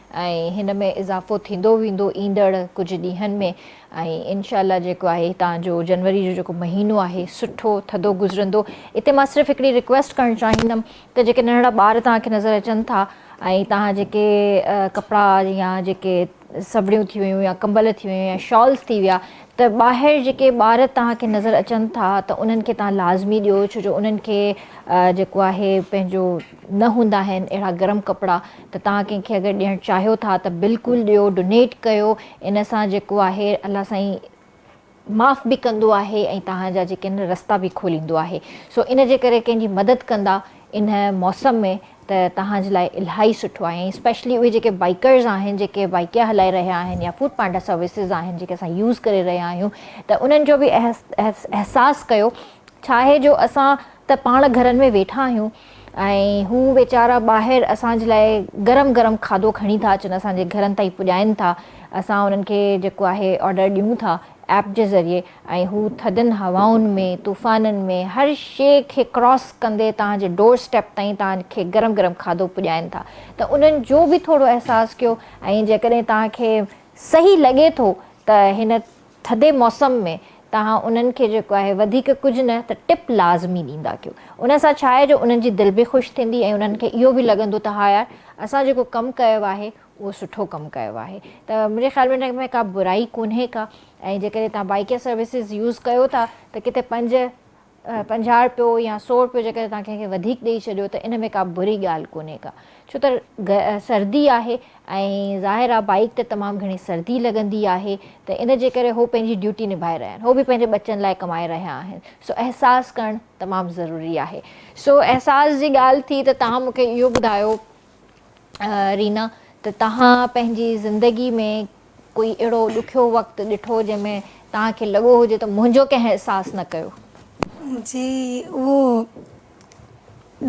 Speaker 1: ۽ هن ۾ اضافو ٿيندو ويندو ايندڙ ڪجهه ڏينهن ۾ ۽ انشاء الله جيڪو آهي هتان جو جنوري جو جيڪو مهينو آهي سٺو ٿڌو گذرندو اتي مان صرف هڪڙي رڪويسٽ ڪرڻ چاهيندم ته جيڪي ننڍڙا ٻار توهان کي نظر اچن ٿا ۽ توهان جيڪي ڪپڙا يا جيڪي سبڙيون ٿي ويون يا ڪمبل ٿي ويون يا شالز ٿي ويا ته ٻاهر جيڪي ٻار توهان کي نظر اچن ٿا ته انهن کي توهان لازمي ڏيو ڇو جو انهن کي جيڪو آهي پنهنجو نه هوندا آهن اهڙا گرم ڪپڙا ته توهان ڪنهن کي اگر ڏيڻ چاهيو ٿا ته بلڪل ڏيو ڊونيٽ ڪيو ان سان جيڪو آهي الله سائين معاف به ڪندو آهي ۽ توهان جا جيڪي آهن رستا به کوليندو آهي سو ان جي ڪري ڪنهن جي مدد ڪندا ان موسم ۾ ته توهان جي لاء الهائي سٺو آهي ۽ اسپيشلي اهي جيڪي بائيڪرز آهن جيڪي بائيڪيا هلائي رهيا آهن يا فوڊ پانڊا سروسز آهن جيڪي اسان يوز ڪري رهيا آهيون ته انهن جو به احساس ڪيو ڇا آهي جو اسان ته پاڻ گهرن ۾ ويٺا آهيون ۽ هو ويچارا ٻاهر اسان جي لاء گرم گرم کاڌو کڻي ٿا اچن اسان جي گهرن تائين پڄائين ٿا اسان انهن کي جيڪو آهي آرڊر ڏيون ٿا ايپ جي ذريعي ۽ هو ٿڌن هوائن ۾ طوفانن ۾ هر شي کي ڪراس ڪندي توهان جي ڊور اسٽيپ تائين توهان کي گرم گرم کاڌو پڄائين ٿا ته انهن جو به ٿورو احساس ڪيو ۽ جيڪڏهن توهان کي صحيح لڳي ٿو ته هن ٿڌي موسم ۾ توهان انهن کي جيڪو آهي وڌيڪ ڪجهه نه ته ٽپ لازمي ڏيندا ڪيو. ان سان ڇا آهي جو انهن جي دل به خوش ٿيندي ۽ انهن کي اهو به لڳندو ته ها يار اسان جيڪو ڪم ڪيو آهي اهو سٺو ڪم ڪيو آهي ته منهنجي خيال ۾ ان ۾ ڪا برائي ڪونهي ڪا ۽ جيڪڏهن توهان بائيڪ يا سروسز يوز ڪيو ٿا ته ڪٿي پنج پنجاهه رپيو يا سؤ رپيو جيڪڏهن توهان ڪنهن کي وڌيڪ ڏئي ڇڏيو ته ان ۾ ڪا بري ڳالهه ڪونهي ڪا ڇو ته سردي آهي ۽ ظاهر آهي بائيڪ تي تمام گهڻي سردي لڳندي آهي ته ان جي ڪري هو پنهنجي ڊيوٽي نڀائي رهيا آهن هو به پنهنجي ٻچن لاء ڪمائي رهيا آهن سو احساس ڪرڻ تمام ضروري آهي. سو احساس جي ڳالهه ٿي ته توهان مون کي اهو ٻڌايو رينا ته توهان پنهنجي زندگي ۾ ڪوئي اهڙو ڏکيو وقت ڏٺو جنهن ۾ توهان کي لڳو هجي ته منهنجو ڪنهن احساس نه ڪيو. جي
Speaker 2: اهو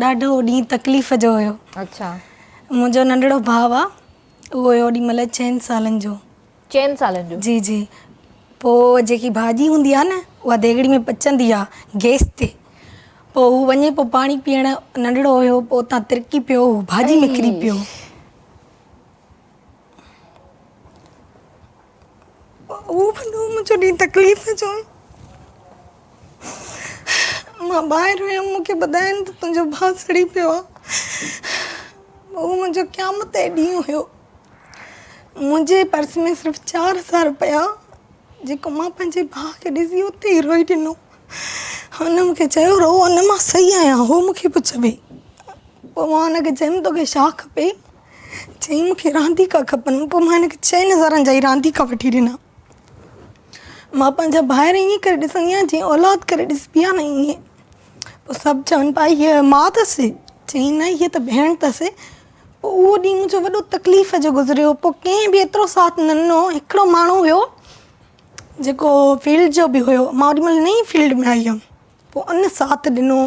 Speaker 2: ڏاڍو ڏينهن تڪليف جو هيو. اڇا.
Speaker 1: منهنجو ننڍڙو
Speaker 2: ڀاء آ اهو هيو اوڏي مهل چئن سالن جو. چئن سالن جو.
Speaker 1: جي جي
Speaker 2: پوء جيڪي ڀاڄي هوندي آهي نه اها ديڳڙي ۾ پچندي آهي گيس تي پوء هو وڃي پوء پاڻي پيئڻ ننڍڙو هيو پوء اتان ترڪي پيو هو ڀاڄي ۾ ڪري پيو اهو بندو منهنجو ڏينهن تڪليف جو مان ٻاهر ويم مون کي ٻڌائين ته تنهنجو ڀاء سڙي پيو آهي اهو منهنجو قيامت جو ڏينهن هيو منهنجي پرس ۾ صرف چار هزار روپيا جيڪو مان پنهنجي ڀاء کي ڏسي اتي ئي روئي ڏنو هن مونکي چيو رو ان مان صحيح آهيان هو مونکي پئي چوي پوء مان هن کي چيم توکي ڇا کپي چيم مونکي رانديڪا کپن پوء مان هن کي چئن هزارن جا ئي رانديڪا وٺي ڏنا مان پنهنجا ڀائر ائين ڪري ڏسندي آهيان جيئن اولاد ڪري ڏسبي آهي نه ائين پوء سڀ چون پيا هيء ماء اٿس چيائين نه هيء ته ڀيڻ اٿس پوء اهو ڏينهن منهنجو وڏو تڪليف جو گذريو پوء ڪنهن به ايترو ساٿ نه ڏنو هڪڙو ماڻهو هيو جيڪو فيلڊ جو به هيو مان اوڏي مهل نئين فيلڊ ۾ آئي هيم پوء ان ساٿ ڏنو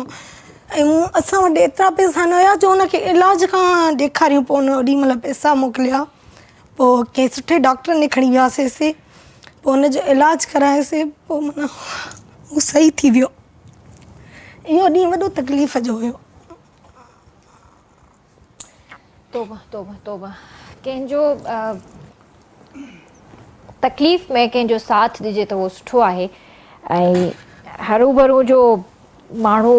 Speaker 2: ۽ اسان وٽ ايترا پئسا نه هيا جو ان کي علاج کان ڏيکاريون پوء ان اوڏي مهل پئسا موڪليا پوء ڪنهن سٺي ڊاڪٽر ڏي کڻي وياسي سي پوء ان جو علاج ڪرايو سي پوء منا هو صحيح ٿي ويو اهو ڏينهن وڏو تڪليف جو هيو
Speaker 1: توبه توبه توبه ڪنهن جو تڪليف ۾ ڪنهن جو ساٿ ڏجي ته اهو سٺو آهي ۽ هروڀرو جو ماڻهو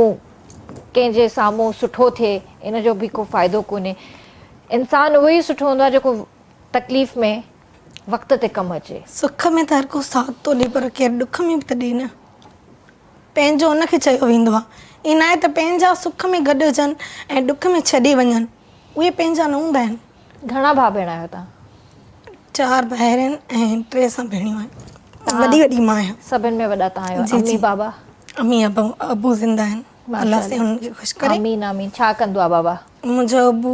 Speaker 1: ڪنهن جي سامهون سٺو ٿئي ان جو به ڪو فائدو ڪونهي انسان اهو ئي سٺو هوندو آهي جيڪو تڪليف ۾ وقت تي ڪم اچي سک ۾ ته هر ڪو
Speaker 2: ساٿ ٿو ڏي پر ڪير ڏک ۾ به ته ڏي نه پنهنجو ان کي چيو ويندو آهي. ائين ناهي ته پنهنجا سک ۾ گڏ هجن ۽ ڏک ۾ ڇڏي وڃن. اهي پنهنجا نه هوندا آهن. گهڻا ڀاء ڀيڻ آهيو
Speaker 1: توهان؟ چار
Speaker 2: ڀائر آهن ۽ ٽي سان ڀيڻيون آهن. وڏي وڏي مان آهيان. سڀن ۾ وڏا توهان آهيو.
Speaker 1: امي بابا؟ امي ابو
Speaker 2: ابو زنده آهن. الله سائين انهن کي خوش ڪري. آمين آمين. ڇا ڪندو
Speaker 1: آهي بابا؟ منهنجو ابو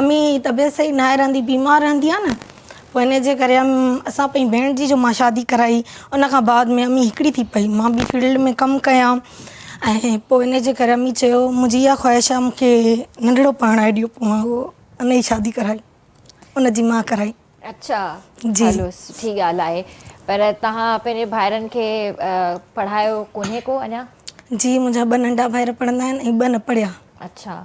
Speaker 2: امي جي طبيعت صحيح ناهي رهندي بيمار رهندي آ نه پوء انهي جي ڪري اسان پنهنجي ڀيڻ جي جو مان شادي ڪرائي ان کان بعد ۾ امي هڪڙي ٿي پئي مان ٻي فيلڊ ۾ ڪم ڪيان ۽ پوء انهي جي ڪري امي چيو منهنجي اها خواهش آ مونکي ننڍڙو پرڻائي ڏيو پوء مان هو ان جي شادي ڪرائي ان جي مان ڪرائي اڇا
Speaker 1: جي
Speaker 2: هلو سٺي ڳالهه
Speaker 1: آهي
Speaker 2: پر
Speaker 1: توهان پنهنجي ڀائرن کي پڙهايو ڪونهي ڪو اڃا جي منهنجا ٻه
Speaker 2: ننڍا ڀائر پڙهندا آهن ۽ ٻه نه پڙهيا اڇا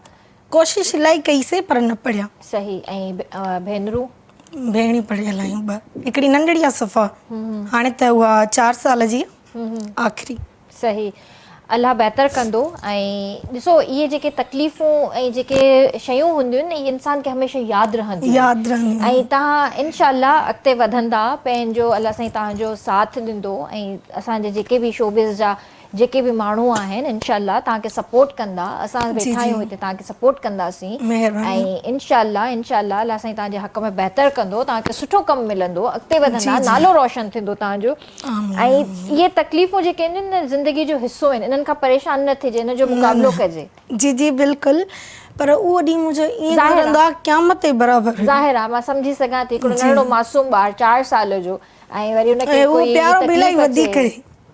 Speaker 1: ڪوشش الاهي
Speaker 2: ڪئي سي پر نه پڙهيا. صحيح
Speaker 1: ۽ ڀينرون؟ ڀيڻيون
Speaker 2: پڙهيل آهيون ٻه هڪڙي ننڍڙي آ صفا هاڻي ته اها چار سال جي آ آخري. صحيح
Speaker 1: الله بهتر ڪندو ۽ ڏسو اهي جيڪي تڪليفون ۽ جيڪي شيون هونديون اهي انسان کي هميشه ياد رهنديون ياد رهنديون ۽ تهان انشاء الله اڳتي وڌندا پنهنجو الله سائين تهانجو ساٿ ڏندو ۽ اسان جي جيڪي به شوبز جا جيڪي به ماڻهو آهن انشاء الله توهان کي سپورٽ ڪندا اسان ويٺا آهيون هتي توهان کي سپورٽ ڪنداسين ۽ انشاء الله انشاء الله الله سائين توهان جي حق ۾ بهتر ڪندو توهان کي سٺو ڪم ملندو اڳتي وڌندا نالو روشن ٿيندو توهان جو ۽ اهي تڪليفون جيڪي آهن نه زندگي جو حصو آهن انهن کان پريشان نه ٿجي ان جو مقابلو ڪجي جي جي بلڪل
Speaker 2: پر اهو ڏينهن منهنجو ائين لڳندو آهي قيامت جي برابر هو ظاهر آهي مان سمجهي
Speaker 1: سگهان ٿي هڪڙو ننڍڙو معصوم ٻار چار سال جو ۽ وري ان کي ڪوئي تڪليف اچي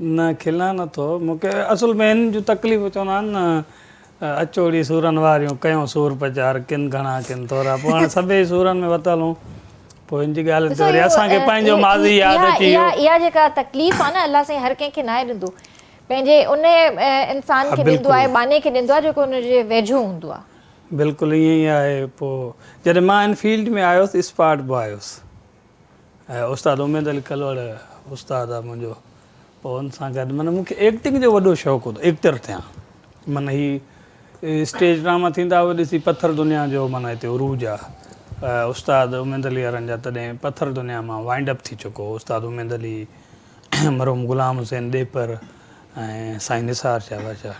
Speaker 1: نه
Speaker 2: کلان
Speaker 3: نٿو مون کي اصل ۾ هن جون تڪليفون چوندا آهن نه اچوڙي سورن واريون ڪيون سور پچار ڪن گهڻا ڪن ٿورا پوء هاڻي سڀيئي سورن ۾ وتل هون پوء هن جي ڳالهين تي وري اسان کي پنهنجو ماضي ياد اچي ويو. اها جيڪا تڪليف
Speaker 1: آهي نه الله سائين هر ڪنهن کي ناهي ڏيندو پنهنجي ان انسان کي ڏيندو آهي ٻانهي کي ڏيندو آهي جيڪو ان جي ويجهو هوندو آهي. بلڪل ائين ئي
Speaker 3: آهي پوء جڏهن مان هن فيلڊ ۾ آيس اسپاٽ باء هيس ۽ استاد اميد علي ڪلوڙ استاد آ منهنجو پوء ان سان گڏ معنيٰ مون کي ايڪٽنگ جو وڏو شوق هوندو ايڪٽر ٿيان معنيٰ هي اسٽيج ڊراما ٿيندا هئا ڏسي پٿر دنيا جو معنيٰ هتي عروج آ استاد اميد علي وارن جا تڏهن پٿر دنيا مان وائنڊ اپ ٿي چڪو هو استاد اميد علي مرحوم غلام حسين ڏيپر ۽ سائين نثار شاهه بادشاهه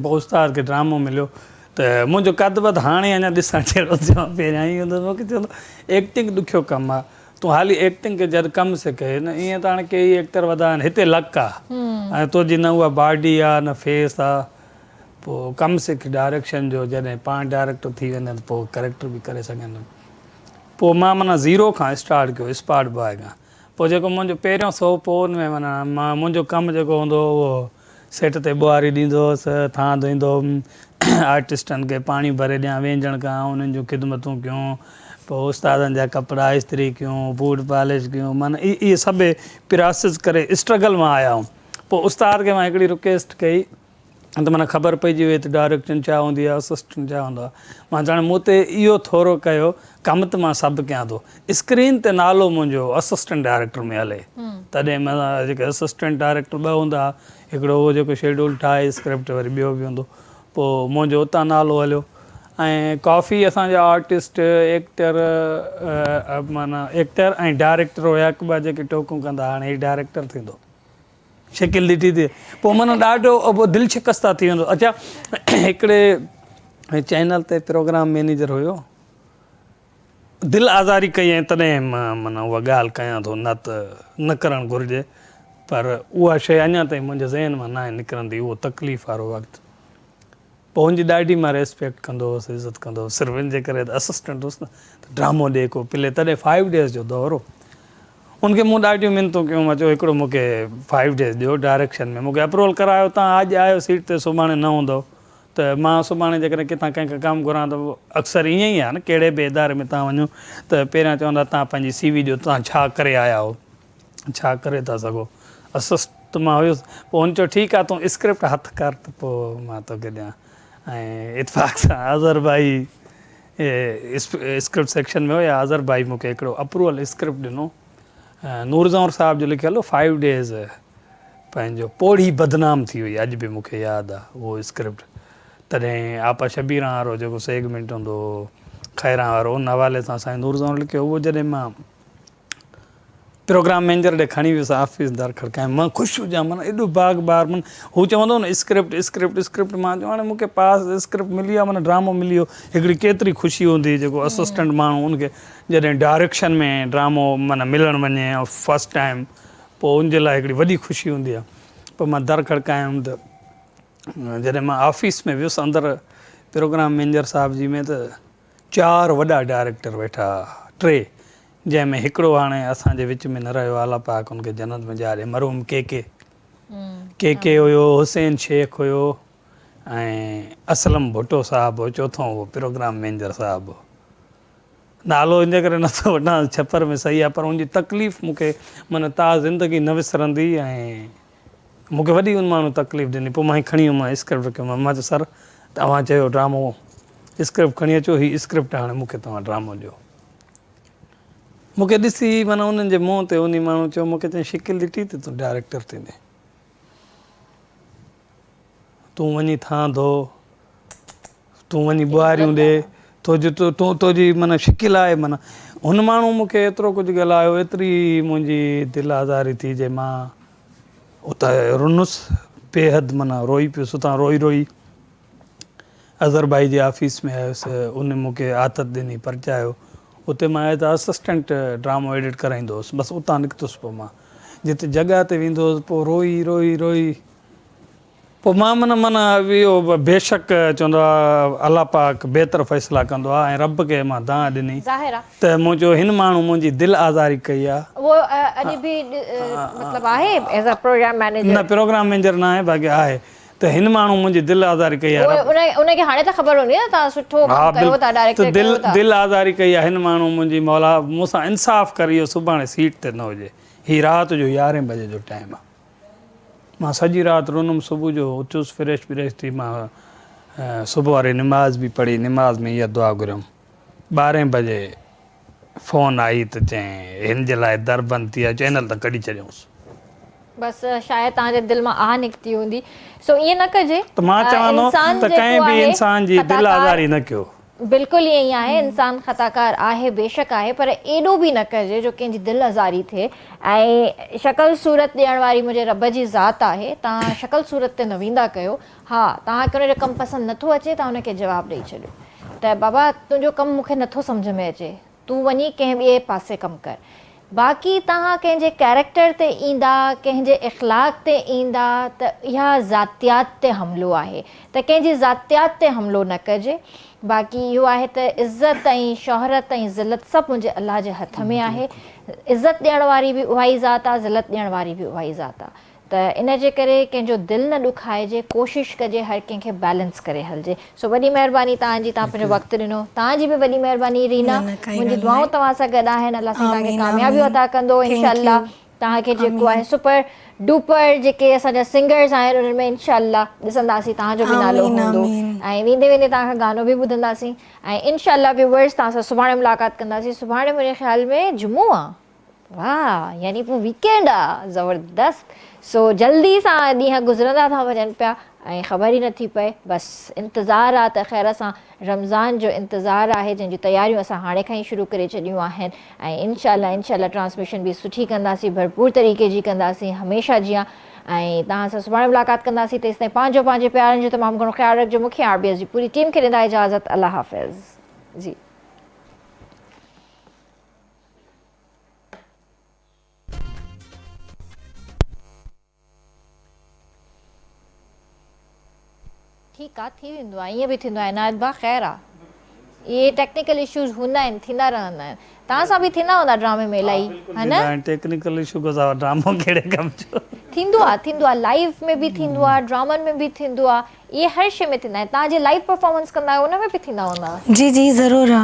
Speaker 3: پوء استاد کي ڊرامو مليو ته منهنجو قد وڌ هاڻي اڃا ڏسڻ جهڙو ٿيو آهي، پهريان ائين هوندو هو، مون کي چوندو هو ايڪٽنگ ڏکيو ڪم آهي، تون هالي ايڪٽنگ ڪر جڏهن ڪم سک، هن ائين ته هاڻي ڪيئي ايڪٽر وڌا آهن، هتي لڪ آهي ۽ تنهنجي نه اها باڊي آهي نه فيس آهي، پوء ڪم سک ڊائريڪشن جو، جڏهن پاڻ ڊائريڪٽر ٿي ويندين ته پوء ڪريڪٽر به ڪري سگهندين، پوء مان معنيٰ زيرو کان اسٽارٽ ڪيو اسپاٽ باء کان. پوء جيڪو منهنجو پهريون سوڀ پوء ان ۾ معنيٰ منهنجو ڪم جيڪو هوندو هو اهو سيٽ تي ٻوهاري ڏيندو هوس، ٿانء ڌوئيندو هوم، آرٽسٽن کي پاڻي ڀري ڏيان، وينجڻ ڪيان، انهن جون خدمتون ڪيون، پوء استادن جا ڪپڙا استري ڪيون، بوٽ پالش ڪيون، معنيٰ اهي سڀ پراسيس ڪري اسٽرگل مان آيا هوم. پوء استاد کي مان هڪڙي رڪيسٽ ڪئي. ته معنيٰ خبر پئجي وئي ته ڊائريڪشن ڇا هوندي آهي اسسٽنٽ ڇا هوندو آهي مان چيو هاڻي مون تي اهو ٿورو ڪيو ڪم ته مان سڀ ڪيان ٿو اسڪرين تي نالو منهنجو اسسٽنٽ ڊائريڪٽر ۾ هلي تڏهن مان جيڪي اسسٽنٽ ڊائريڪٽر ٻه هوندا هئا هڪڙو اهو جيڪو شيڊول ٺاهي اسڪرپٽ وري ٻيو به هوندو پوء منهنجو اتان نالو هليو ۽ ڪافي اسان جا آرٽسٽ ايڪٽر معنيٰ ايڪٽر ۽ ڊائريڪٽر هيا هڪ ٻئي جا جيڪي ٽوڪون ڪندا هاڻي هي ڊائريڪٽر ٿيندو شڪل ڏٺي تي پوء من ڏاڍو دل شڪسته ٿي ويندو اچا هڪڙي چينل تي پروگرام مينيجر هيو دل آزاري ڪئي ۽ تڏهن مان من اها ڳالهه ڪيان ٿو نه ته نه ڪرڻ گهرجي پر اها شيء اڃا تائين منهنجي ذهن مان ناهي نڪرندي اهو تڪليف وارو وقت پوء هن جي ڏاڍي مان ريسپيڪٽ ڪندو هوس عزت ڪندو هوس صرف ان جي ڪري ته اسسٽنٽ هوس نه ته ڊرامو ڏي ڪو پلي تڏهن فائيو ڊيز جو دور هو ان کي مون ڏاڍيون منتون ڪيون مان چيو هڪڙو مون کي فائيو ڊيز ڏيو ڊائريڪشن ۾ مون کي اپروول ڪرايو تان اڄ آيو سيٽ تي سڀاڻي نه هوندو ته مان سڀاڻي جيڪڏهن ڪٿان ڪنهن کان ڪم گهران ته اڪثر ائين ئي آهي نه ڪهڙي به اداري ۾ تان وڃو ته پهريان چوندا تان پنهنجي سي وي ڏيو تان ڇا ڪري آيا هو ڇا ڪري ٿا سگهو؟ اسسٽ مان هيس، پوء هن چيو، ٺيڪ آهي، تون اسڪرپٽ هٿ ڪر ته پوء مان توکي ڏيان. ۽ اتفاق سان اظهر ڀائي اسڪرپٽ سيڪشن ۾ هيا، اظهر ڀائي مون کي هڪڙو اپروول اسڪرپٽ ڏنو، نور زئور صاحب جو لکيل هو، فائيو ڊيز، پنهنجو پوڙهي بدنام ٿي هئي، اڄ به مون کي ياد آهي اهو اسڪرپٽ، تڏهن آپا شبيران وارو جيڪو سيگمينٽ هوندو هو، خيران وارو، ان حوالي سان سائين نور زئور لکيو هئو، جڏهن مان. پروگرام مينجر ڏي کڻي ويس آفيس در کڙڪائي مان خوش هجان من ايڏو باغ بار من هو چوندو نه اسڪرپٽ اسڪرپٽ اسڪرپٽ مان جو هاڻي مونکي پاس اسڪرپٽ ملي آ من ڊرامو ملي ويو هڪڙي ڪيتري خوشي هوندي جيڪو اسسٽنٽ ماڻهو ان کي جڏهن ڊاريڪشن ۾ ڊرامو من ملڻ وڃي فرسٽ ٽائيم پو ان جي لاء هڪڙي وڏي خوشي هوندي آ پو مان در کڙڪايم ته جڏهن مان آفيس ۾ ويس اندر پروگرام مينجر صاحب جي ۾ ته چار وڏا ڊائريڪٽر ويٺا ها، ٽي، جنهن ۾ هڪڙو هاڻي اسان جي وچ ۾ نه رهيو، الله پاڪ ان کي جنت ۾ جاء ڏي، مرحوم ڪي ڪي، KK، هيو، حسين شيخ هيو ۽ اسلم ڀٽو صاحب هو، چوٿون اهو پروگرام مينجر صاحب هو. نالو ان ڪري نه ٿو وٺان، ڇپر ۾ صحيح آهي پر ان جي تڪليف مون کي معنيٰ تا زندگي نه وسرندي ۽. مون کي وڏي ان ماڻهوء تڪليف ڏني. پوء مان هي کڻي ويم، مان اسڪرپٽ ڪيو مان. مان چيو سر، توهان چيو ڊرامو اسڪرپٽ کڻي اچو، هي اسڪرپٽ آهي، هاڻي مون کي توهان ڊرامو ڏيو. مون کي ڏسي معنيٰ انهن جي منهن تي انهي ماڻهوء چيو، مون کي چيائين شڪل ڏٺي ته تون ڊائريڪٽر ٿيندين. تون وڃي ٿان ڌو. تون وڃي ٻهاريون ڏي، تو جي تو تو جي من شڪل آهي من. هن ماڻهو مون کي ايترو ڪجهه ڳالهايو، ايتري منهنجي دل آزاري ٿي جي مان اتان رنس، بيحد من روئي پيس، اتان روئي روئي اظهر ڀائي جي آفيس ۾ آيس، ان مون کي آٿت ڏني، پرچايو، اتي مان ايز آ اسسٽنٽ ڊرامو ايڊٽ ڪرائيندو هوس، بس اتان نڪتس پوء مان جت جڳهه تي ويندو هوس، پوء روئي روئي روئي پوء مان من من اهو بيشڪ چوندو آ الله پاڪ بهتر فيصلا ڪندو آ ۽ رب کي مان دانهن ڏني ظاهر آ. ته منهنجو هن ماڻهو منهنجي دل آزاري ڪئي آ. اهو اڄ به
Speaker 1: مطلب آهي ايز ا پروگرام مينيجر. نه پروگرام مينجر ناهي
Speaker 3: باقي آهي ته هن ماڻهو منهنجي دل آزاري ڪئي آ رب. ان کي هاڻي ته خبر هوندي
Speaker 1: نه توهان سٺو ڪم ڪيو ٿا ڊائريڪٽر ڪيو ٿا. دل آزاري ڪئي آ هن
Speaker 3: ماڻهو منهنجي مولا مون سان انصاف ڪر اهو سڀاڻي سيٽ تي نه هجي هي رات جو يارهين بجي جو ٽائيم آ. مان سڄي رات رونم صبح جو اٿيس فريش بريش ٿي مان صبح واري نماز به پڙهي نماز ۾ اها دعا گهريم ٻارهين بجي فون آئي ته چين هن جي لاء در بند ٿي آهي چينل ته ڪڍي ڇڏيوس. بس
Speaker 1: شايد توهان جي دل مان آهه نڪتي هوندي سو ائين نه ڪجي ته مان چوان ٿو
Speaker 3: ته ڪنهن به انسان جي دل آزاري نه ڪيو. بلڪل ائين ئي آهي
Speaker 1: انسان خطاڪار آهي بيشڪ آهي پر ايڏو به نه ڪجي جو ڪنهن جي دل ازاري ٿئي ۽ شڪل صورت ڏيڻ واري منهنجي رب جي ذات آهي توهان شڪل صورت تي نه ويندا ڪيو ها توهان کي ان جو ڪم پسند نٿو اچي توهان ان کي جواب ڏئي ڇڏيو ته بابا تنهنجو ڪم مون کي نٿو سمجهه ۾ اچي تون وڃي ڪنهن ٻئي پاسي ڪم ڪر. باقي توهان ڪنهن جي ڪيريڪٽر تي ايندا، ڪنهن جي اخلاق تي ايندا ته اها ذاتيات تي حملو آهي ته ڪنهن جي ذاتيات تي حملو نه ڪجي. باقي اهو آهي ته عزت ۽ شهرت ۽ ذلت سڀ منهنجي الله جي هٿ ۾ آهي. عزت ڏيڻ واري به اهائي ذات آهي، ذلت ڏيڻ واري به اهائي ذات آهي. ته ان جي ڪري ڪنهن جو دل نه ڏکائجي ڪوشش ڪجي هر ڪنهن کي بيلنس ڪري هلجي سو وڏي مهرباني توهان جي توهان پنهنجو وقت ڏنو توهان جي به وڏي مهرباني رينا منهنجي دعائون توهان سان گڏ آهن الله سان توهان کي ڪاميابيون عطا ڪندو انشاء الله توهان کي جيڪو آهي سپر ڊوپر جيڪي اسان جا سنگرز آهن انهن ۾ انشاء الله ڏسنداسين توهان جو به نالو هوندو ۽ ويندي ويندي توهان کان گانو به ٻڌنداسين ۽ انشاء الله ويوورز توهان سان سڀاڻي ملاقات ڪنداسين سڀاڻي منهنجي خيال ۾ جمعو آ. واھ يعني پوء ويڪينڊ آ زبردست سو جلدي سان ڏينهن گذرندا ٿا وڃن پيا ۽ خبر ئي نٿي پئي بس انتظار آ ته خير سان رمضان جو انتظار آهي جنهن جون تياريون اسان هاڻي کان ئي شروع ڪري ڇڏيون آهن ۽ انشاء الله انشاء الله ٽرانسميشن به سٺي ڪنداسين ڀرپور طريقي جي ڪنداسين هميشه جيان ۽ توهان سان سڀاڻي ملاقات ڪنداسين تيستائين پنهنجو پنهنجي پيارن جو تمام گهڻو خيال رکجو مون کي آر بي ايس جي پوري ٽيم کي ڏيندا اجازت الله حافظ جي. ٺيڪ آ ٿي ويندو آ ائين به ٿيندو آ عنايت با خير آ اهي ٽيڪنيڪل اشوز هوندا آهن ٿيندا رهندا آهن توهان سان به ٿيندا هوندا ڊرامي ۾ الائي ها نه ٽيڪنيڪل اشو کان سواء
Speaker 3: ڊرامو ڪهڙي ڪم جو ٿيندو آ ٿيندو
Speaker 1: آ لائيف ۾ به ٿيندو آ ڊرامن ۾ به ٿيندو آ اهي هر شي ۾ ٿيندا آهن توهان جي لائيف پرفارمنس ڪندا آهيو ان ۾ به ٿيندا
Speaker 2: هوندا
Speaker 1: جي
Speaker 2: جي
Speaker 1: ضرور
Speaker 2: آ